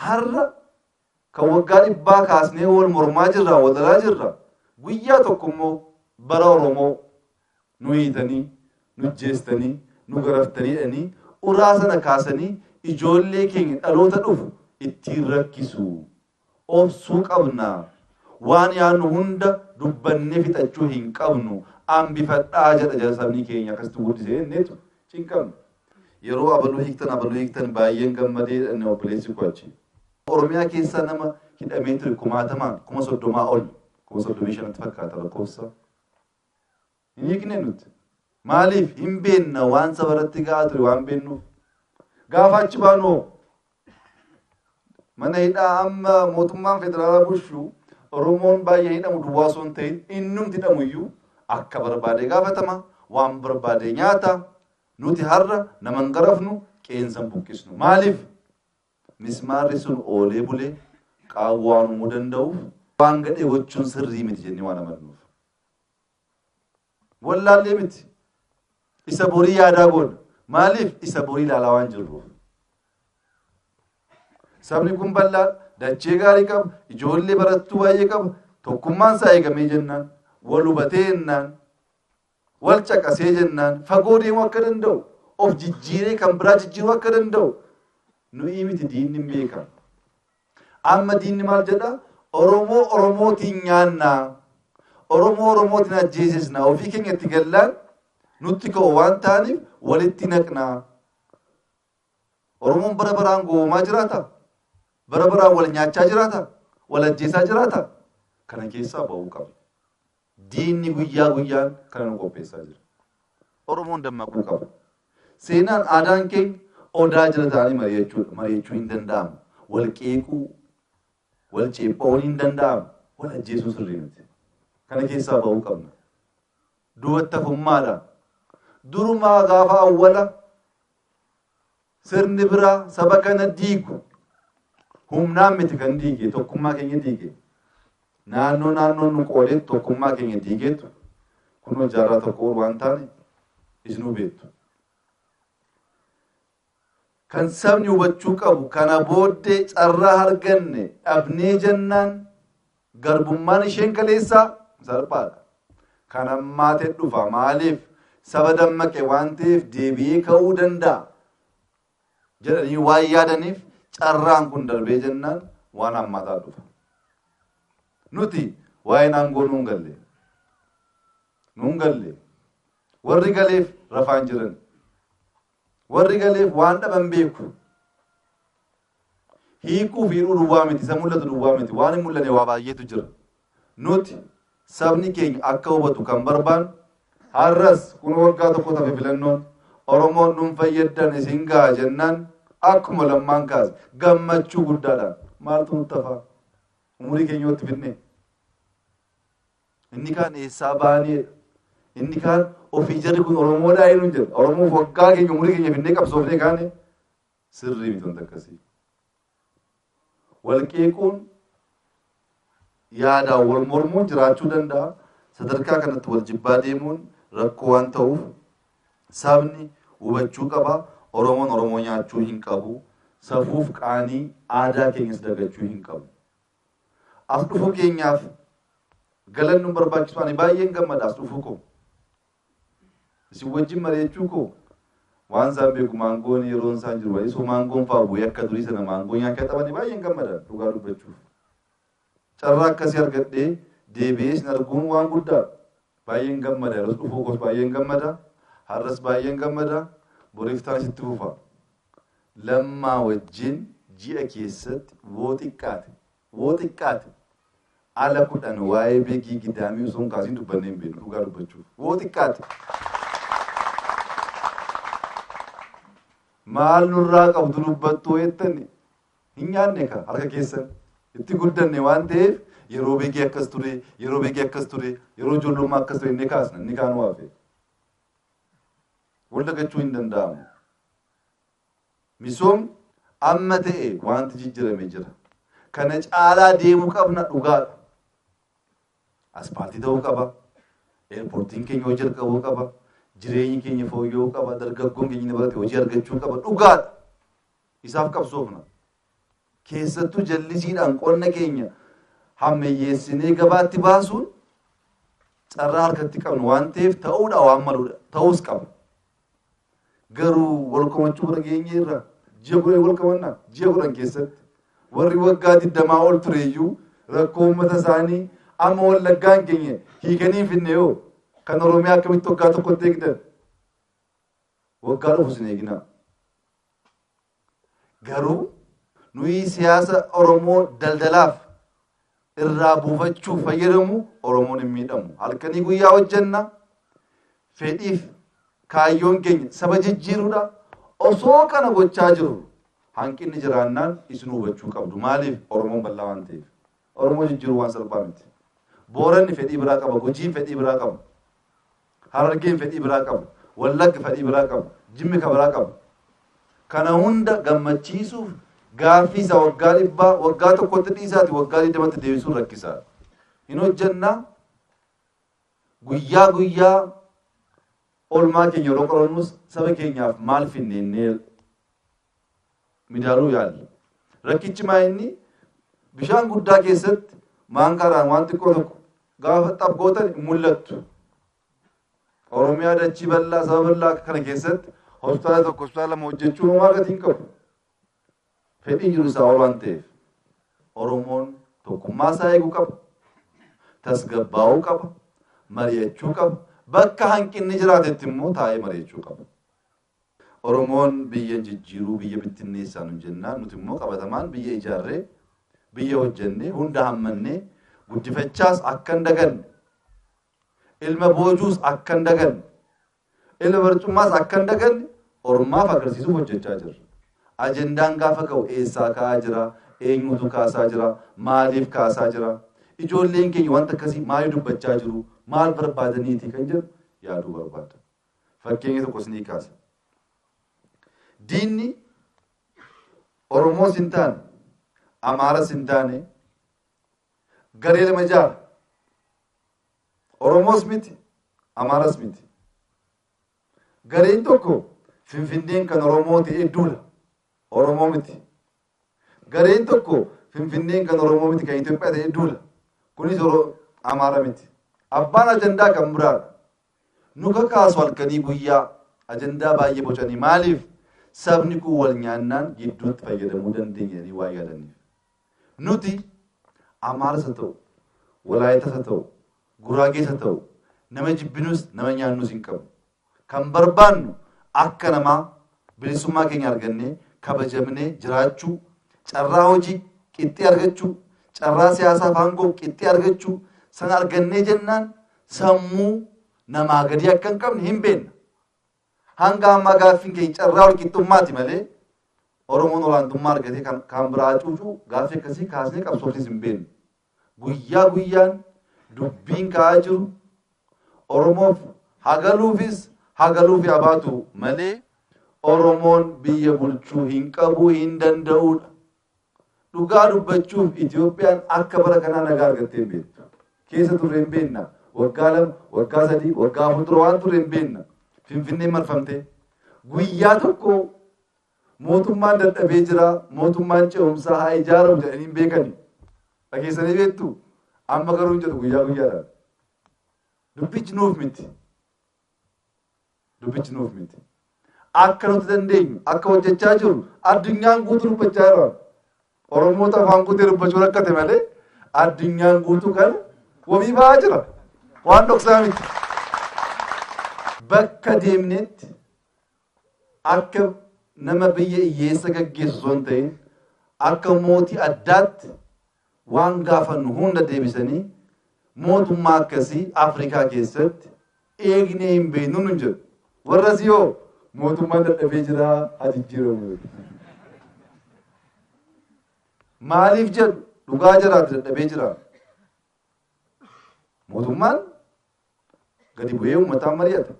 Har'a kan waggaa dhibbaa kaasnee wal mormaa jirra, wal lolaa jirra. Guyyaa tokko immoo bara Oromoo nu hiitanii, nu ajjeestanii, nu garaftanii jedhanii uraa sana kaasanii ijoollee keenya dhaloota dhufu ittiin rakkisu. obsuu qabna. Waan yaannu hunda dubbannee fixachuu hin qabnu. Ambifadhaa jedha jara sabni keenya akkasitti guddise jenneetu cinqamne. Yeroo abaluu hiiktan abaluu hiiktan baay'een gammadee jedhan obboleessi koo achi. Oromiyaa keessaa nama hidhamee ture kumaatamaan kuma soddomaa ol kuma soddomii shanatti fakkaata lakkoofsa. Hin hiikne nuti. Maaliif hin beenna waan saba irratti ga'aa ture waan beennuuf. Gaafa achi baanu hoo? Mana hidhaa amma mootummaan federaalaa bulchu Oromoon baay'ee hidhamu duwwaa osoo hin ta'in innumti hidhamu iyyuu akka barbaade gaafatama waan barbaade nyaata nuti har'a nama hin garafnu qeensa hin buqqisnu. Maaliif? Mismaarri sun oolee bulee qaawwa waan uumuu danda'uuf waan gadhee gochuun sirrii miti jennee waan amannuuf. wallaallee miti. Isa borii yaadaa goona. Maaliif isa borii ilaalaa waan jirruuf. Sabni kun bal'aa dachee gaarii qaba, ijoollee barattuu baay'ee qaba, tokkummaan isaa eegamee jennaan, wal hubatee jennaan, wal caqasee jennaan, fagoo deemuu akka danda'u, of jijjiiree kan biraa jijjiiruu akka danda'u nu'ii miti diinni hin beekan. Amma diinni maal jedha? Oromoo Oromootiin nyaanna. Oromoo Oromootiin ajjeesisna. Ofii keenya itti gallaan nutti ka'u waan ta'aniif walitti naqna. Oromoon bara baraan gowwoomaa jiraata? Bara baraan wal nyaachaa jiraata? Wal ajjeesaa jiraata? Kana keessaa ba'uu qabna. Diinni guyyaa guyyaan kana nu qopheessaa jira. Oromoon dammaquu qaba. Seenaan, aadaan keenya Odaa jala taa'anii mari'achuudha. Mari'achuu hin danda'amu. Wal qeequu, wal ceepha'uun hin danda'amu. Wal ajjeesuu sirrii miti. Kana keessaa ba'uu qabna. Duubatti hafummaadha. Durumaa gaafa awwala Sirni biraa saba kana diigu humnaan miti kan diige tokkummaa keenya diige. Naannoo naannoo nu qoodee tokkummaa keenya diigeetu kunoo jaarraa tokko ol waan taane isinuu beektu. Kan sabni hubachuu qabu kana booddee carraa arganne dhabnee jennaan Garbummaan isheen kaleessaa salphaadha. Kan hammaate dhufa. Maaliif? Saba dammaqe waan ta'eef deebi'ee ka'uu danda'a. jedhanii waan yaadaniif carraan kun darbee jennaan waan hammaataa dhufa. Nuti waa'een aangoo nuun galle. Nuun galle. Warri galeef rafaan jiran. Warri galeef waan dhaban beeku. Hiikuu fi hidhuu duwwaa miti, isa mul'atu duwwaa miti, waan hin mul'anne waa baay'eetu jira. Nuti sabni keenya akka hubatu kan barbaannu har'as kun waggaa tokko tafe filannoon Oromoon dhuunfa yaddan isin gaha jennaan akkuma lammaan kaase gammachuu guddaadhaan maaltu nutti hafaa umurii keenya yoo itti fidne Inni kaan eessaa baaneedha. Inni kaan ofii jarri kun Oromoodhaa eenyuun jedha. Oromoof waggaa keenya umurii keenya finnee qabsoofnee kaane sirrii miti wanta akkasii. Walqeequun yaadaan wal mormuun jiraachuu danda'a. Sadarkaa kanatti wal jibbaa deemuun rakkoo waan ta'uuf sabni hubachuu qaba. Oromoon Oromoo nyaachuu hin qabu. Safuuf qaanii aadaa keenyas dagachuu hin qabu. As dhufuu keenyaaf galan nu barbaachisu ani baay'een gammada as dhufuu koo. Isin wajjin mari'achuu koo waan isaan beeku maangoon yeroon isaan jiru baay'ee soo maangoon fa'aa bu'ee akka durii sana maangoo nyaachaa taphanii baay'een gammada dhugaa dubbachuuf. Carraa akkasii argadhee deebi'ee isin arguun waan guddaadha. Baay'een gammada yeroo dhufuu koos baay'een gammada har'as baay'een gammada boriif taanis itti fufa. Lammaa wajjin ji'a keessatti woo xiqqaate woo xiqqaate ala kudhan waa'ee beegii gidaamii osoo hin kaasiin dubbannee hin beeknu dhugaa dubbachuuf woo xiqqaate. Maal nurraa qabdu dubbattuu jettani Hin nyaanne kaa harka keessan. Itti guddanne waan ta'eef yeroo beegii akkas ture, yeroo beegii akkas ture, yeroo ijoollummaa akkas ture inni kaasna, inni kaanuu hafe. Wal dagachuu hin danda'amu. Misoomni amma ta'e wanti jijjirame jira. Kana caalaa deemuu qabna dhugaadha. Aspaaltii ta'uu qaba. Eerpoortiin keenya hojii jalqabuu qaba. Jireenyi keenya fooyya'uu qaba. Dargaggoon keenya inni barate hojii argachuu qaba. Dhugaadha. isaaf qabsoofna. Keessattuu jallisiidhaan qonna keenya hammayyeessinee gabaatti baasuun carraa harkatti qabnu waan ta'eef ta'uudha waan maluudha. Ta'uus qaba. Garuu wal komachuu bira geenye irra ji'a kudhan wal komanna ji'a kudhan keessatti warri waggaa digdamaa ol tureeyyuu rakkoo uummata isaanii amma wallaggaan keenya hiikanii finne yoo kan Oromiyaa akkamitti waggaa tokkotti eegdan Waggaa dhufu isin eeginaa. Garuu nuyi siyaasa Oromoo daldalaaf irraa buufachuuf fayyadamu Oromoon hin miidhamu. Halkanii guyyaa hojjenna. Fedhiif kaayyoon keenya saba jijjiiruudha. Osoo kana gochaa jiru hanqinni jiraannaan isin hubachuu qabdu. Maaliif Oromoon bal'aa waan ta'eef. Oromoo jijjiiruu waan salphaa miti. Booranni fedhii biraa qaba. Gujiin fedhii biraa qaba. Harargeen fedhii biraa qabu. Wallagg fadhii biraa qabu. Jimmi ka biraa qabu. Kana hunda gammachiisuuf gaaffii isa waggaa dhibbaa waggaa tokkotti dhiisaati waggaa digdamatti deebisuun rakkisaadha. Hin hojjenna guyyaa guyyaa olmaa keenya yeroo qorannus saba keenyaaf maal finneennee midaaluu yaalla. Rakkichi maa inni bishaan guddaa keessatti maankaadhaan waan xiqqoo tokko gaafa xab gootan hin mul'attu. Oromiyaa dachii bal'aa saba bal'aa akka kana keessatti hospitaala tokko hospitaala lama hojjechuun homaa gatii hin qabu. Fedhii jiru isaa ol waan ta'eef Oromoon tokkummaa isaa eeguu qaba. Tasgabbaa'uu qaba. Mari'achuu qaba. Bakka hanqinni jiraatetti immoo taa'ee mari'achuu qaba. Oromoon biyya hin jijjiiruu biyya bittinneessaa nun jennaan nuti immoo qabatamaan biyya ijaarree, biyya hojjennee, hunda hammannee guddifachaas akka hin daganne, ilma boojuus akka hin daganne, ilma barcummaas akka hin daganne ormaaf agarsiisuuf hojjechaa jirra. Ajendaan gaafa ka'u eessaa ka'aa jira, eenyuutu kaasaa jira, maaliif kaasaa jira, ijoolleen keenya wanta akkasii maaliif dubbachaa jiru, maal barbaadaniiti kan jedhu yaaduu barbaada. Fakkeenya tokko isinii kaasa. Diinni Oromoos hin taane, Amaaras hin taane, garee lama ijaara. Oromoos miti, Amaaras miti. Gareen tokko Finfinneen kan Oromoo ta'ee duula. Oromoo miti. Gareen tokko Finfinneen kan Oromoo miti kan Itoophiyaa ta'ee duula. Kunis Amaara miti. Abbaan ajandaa kan biraadha. nu kakaasu halkanii guyyaa ajandaa baay'ee bocanii maaliif sabni kun wal nyaannaan gidduutti fayyadamuu dandeenya jedhanii waan yaadaniif. Nuti Amaaras haa ta'u, Walaayitas haa ta'u, Guraagees haa ta'u nama jibbinus nama nyaannus hin qabnu. Kan barbaannu akka namaa bilisummaa keenya argannee kabajamnee jiraachuu, carraa hojii qixxee argachuu, carraa siyaasaa fi aangoo qixxee argachuu sana argannee jennaan sammuu namaa gadii akka hin qabne hin beenna. Hanga ammaa gaaffiin keenya carraa walqixxummaati malee Oromoon olaantummaa argatee kan kaan biraa hacuucuu gaaffii akkasii kaasnee qabsoofnees hin beennu. Guyyaa guyyaan dubbiin ka'aa jiru Oromoof hagaluufis hagaluufi abaatu malee Oromoon biyya bulchuu hin qabu hin danda'uudha. Dhugaa dubbachuuf Itoophiyaan akka bara kanaa nagaa argattee hin beektu. Keessa turre hin beekna. Waggaa lama, waggaa sadii, waggaa afur dura waan turre hin beekna. Finfinneen marfamtee. Guyyaa tokko mootummaan dadhabee jira, mootummaan ce'umsaa haa ijaaramu jedhanii hin beekani. Dhageessanii beektu? Amma garuu hin jedhu guyyaa guyyaadhaan. Dubbichi nuuf miti. Dubbichi nuuf miti. Akka nuti dandeenyu, akka hojjechaa jiru addunyaan guutuu dubbachaa jira. Oromoota afaan guutee dubbachuu rakkate malee addunyaan guutuu kana wabii ba'aa jira. Waan dhoksaa miti. Bakka deemnetti akka nama biyya hiyyeessa gaggeessu osoo hin ta'in akka mootii addaatti Waan gaafannu hunda deebisanii mootummaa akkasii Afrikaa keessatti eegnee hin beeknu nun jedhu. Warrasii hoo mootummaan dadhabee jira haa jijjiiramu jedhu. Maaliif jedhu dhugaa jiraatu dadhabee jira. Mootummaan gadi bu'ee uummataan mari'ata.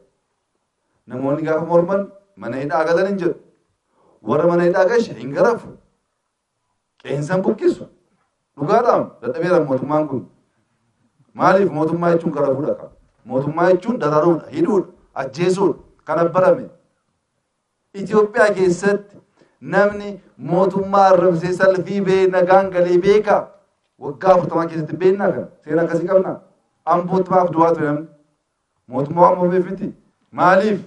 Namoonni gaafa morman mana hidhaa galan hin jedhu. Warra mana hidhaa gashe hin garafu. qeensaan buqqisu dhugaadhaan dadhabeera mootummaan kun maaliif mootummaa jechuun gara fuudha qaba mootummaa jechuun dararuudha hidhuudha ajjeesuudha kana barame Itoophiyaa keessatti namni mootummaa arrabsee salfii bee nagaan galee beeka waggaa afurtamaa keessatti beeknaa kana seera akkasii qabna ambootti maaf du'aa ture namni mootummaa waan moofeef miti maaliif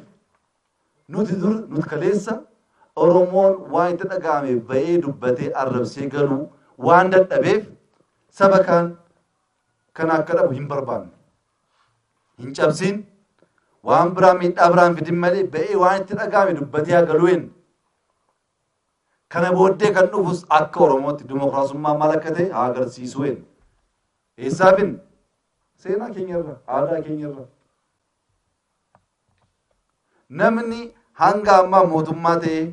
Nuti dur, nuti kaleessa Oromoon waan itti dhaga'ame ba'ee dubbatee arrabsee galuu waan dadhabeef saba kaan kana akka dhabu hin barbaanne. Hin cabsiin waan biraa miidhaa biraan fidin malee ba'ee waan itti dhaga'ame dubbatee haa galuu hin. Kana booddee kan dhufus akka Oromootti dimokiraasummaa maal akka ta'e haa agarsiisuu hin. Eessaafin seenaa keenyarra, aadaa keenyarra. Namni hanga ammaa mootummaa ta'ee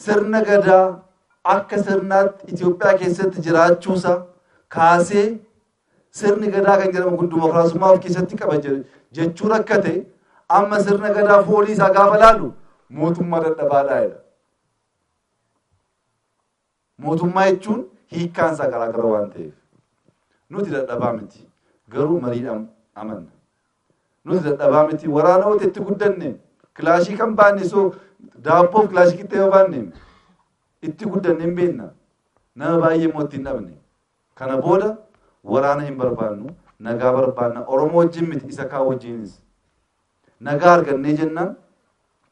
sirna Gadaa akka sirnaatti Itoophiyaa keessatti jiraachuusaa kaasee sirni Gadaa kan jedhamu kun dimokiraasummaa of keessatti qaba jechuu rakkate amma sirna Gadaa foolii isaa gaafa laalu mootummaa dadhabaadhaa jedha. Mootummaa jechuun hiikkaan isaa garaa gara waan ta'eef. Nuti dadhabaa miti. Garuu mariidhaan amanna. Nuti dadhabaa miti. Waraana wayita itti guddanne kilaashii kan baanne soo daabboof kilaashii qixxee yoo baanne itti guddanne hin beekna. Nama baay'ee immoo itti hin dhabne. Kana booda waraana hin barbaannu. Nagaa barbaanna. Oromoo wajjin miti isa kaan wajjinis. Nagaa argannee jennaan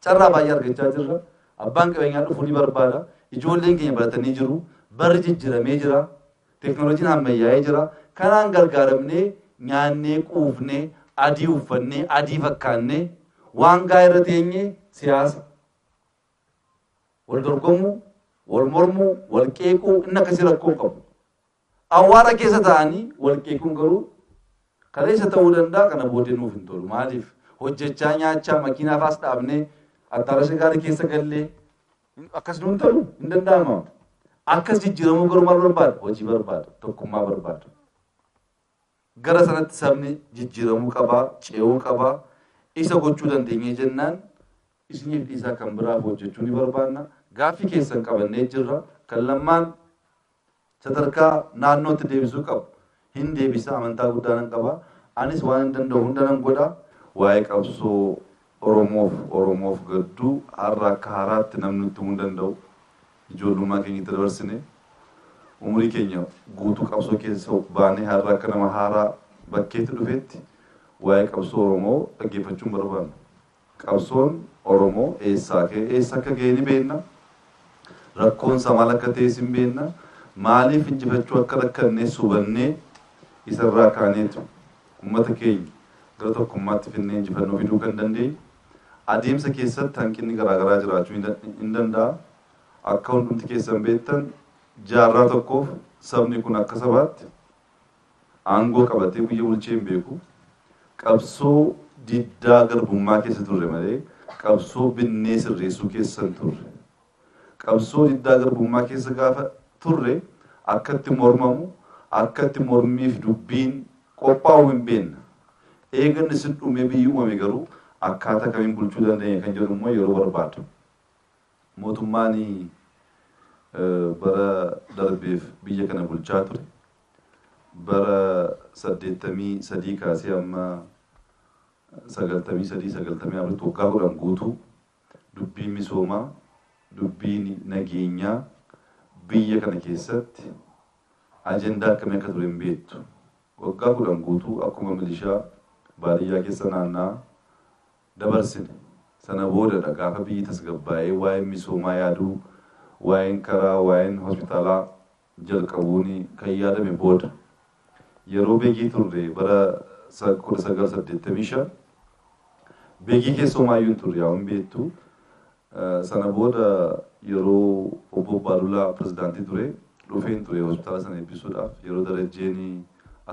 carraa baay'ee argachaa jirra. Abbaan qabeenyaa dhufuu ni barbaada. Ijoolleen keenya baratanii jiru. Barri jijjiramee jira. Teknolojiin hammayyaa'ee jira. Kanaan gargaaramnee nyaannee quufnee adii uffannee adii fakkaannee waan gaa irra teenye siyaasa. Wal dorgomuu, wal mormuu, wal qeequu inni akkasii rakkoo qabu. Awwaara keessa taa'anii wal qeequun garuu kaleessa ta'uu danda'a kana booddee nuuf hin tolu. Maaliif? Hojjechaa nyaachaa makiinaa faas dhaabnee attaarasha gaarii keessa gallee akkas nuun ta'u hin danda'ama. Akkas jijjiiramuu garuu maal barbaada? Hojii barbaada, tokkummaa barbaada. Gara sanatti sabni jijjiiramuu qabaa, ce'uu qabaa. Isa gochuu dandeenyee jennaan isiniif dhiisaa kan biraaf hojjechuu ni barbaanna. Gaaffii keessan qabannee jirra. Kan lammaan sadarkaa naannootti deebisuu qabu hin deebisa amantaa guddaa nan qaba. Anis waan hin danda'u hunda nan godha. Waa'ee qabsoo Oromoof Oromoof gadduu har'a akka haaraatti namni nutti himuu hin danda'u. Ijoollummaa keenya itti dabarsine umurii keenya guutuu qabsoo keessa baanee har'a akka nama haaraa bakkeetti dhufeetti waa'ee qabsoo Oromoo dhaggeeffachuun barbaanna. Qabsoon Oromoo eessaa ka'ee eessa akka ga'e ni beekna. Rakkoon isaa maal akka ta'es hin beekna. Maaliif injifachuu akka rakkannes hubannee isa irraa kaaneetu uummata keenya gara tokkummaatti fidnee injifannoo fiduu kan dandeenyu. Adeemsa keessatti hanqinni garaa garaa jiraachuu hin danda- hin danda'a. Akka hundumti keessan beektan jaarraa tokkoof sabni kun akka sabaatti Aangoo qabatee guyya bulchee hin beeku. Qabsoo diddaa garbummaa keessa turre malee qabsoo binnee sirreessuu keessa hin turre. Qabsoo diddaa garbummaa keessa gaafa turre akkatti mormamu, akkatti mormiif dubbiin qophaa'u hin beekna. Eeganni sin dhumee biyyi uumame garuu akkaataa kamiin bulchuu dandeenya kan jedhu immoo yeroo barbaadu. Mootummaan bara darbeef biyya kana bulchaa ture. Bara 83 kaasee amma 93, 94tti waggaa 10 guutuu dubbiin misoomaa, dubbiin nageenyaa biyya kana keessatti ajandaa akkamii akka ture hin beektu. Waggaa 10 guutuu akkuma milishaa baadiyyaa keessa naanna'aa dabarsine. Sana boodadha gaafa biyyi tasgabbaa'ee waa'een misoomaa yaaduu, waa'een karaa, waa'een hospitaalaa jalqabuun kan yaadame booda yeroo Begii turre bara 1985 Begii keessa homaayyuu hin turre yaa'u hin beektu. Sana booda yeroo obbo Baalulaa pirezidaantii ture dhufeen ture hospitaala sana eebbisuudhaaf yeroo darajjeen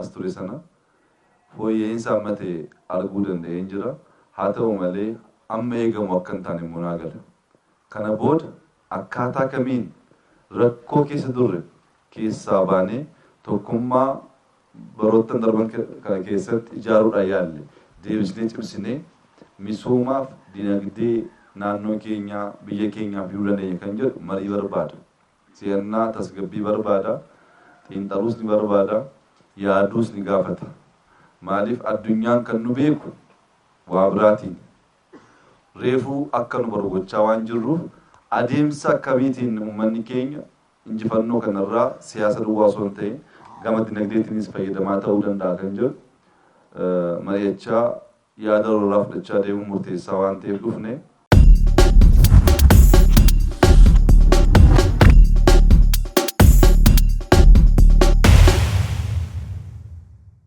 as ture sana fooyya'insa amma ta'e arguu danda'een jira. Haa ta'u malee amma eegamu akka hin taane immoo naa gala. Kana booda Akkaataa kamiin rakkoo keessa turre keessaa baanee tokkummaa baroottan darban kana keessatti ijaaruudhaan yaalle deebisnee cimsinee misoomaaf dinagdee naannoo keenyaa, biyya keenyaa fiduu dandeenya kan jedhu marii barbaada. Si'annaa, tasgabbii barbaada. Xiinxaluus ni barbaada. Yaaduus ni gaafata. Maaliif addunyaan kan nu beeku waa biraatiini. reefuu akka nu baru gochaa waan jirruuf adeemsa akkamiitiin ummanni keenya injifannoo kana irraa siyaasa duwwaa osoo hin ta'in gama dinagdeetiinis fayyadamaa ta'uu danda'a kan jedhu mari'achaa yaada walirraa fudhachaa deemuun murteessaa waan ta'eef dhufne.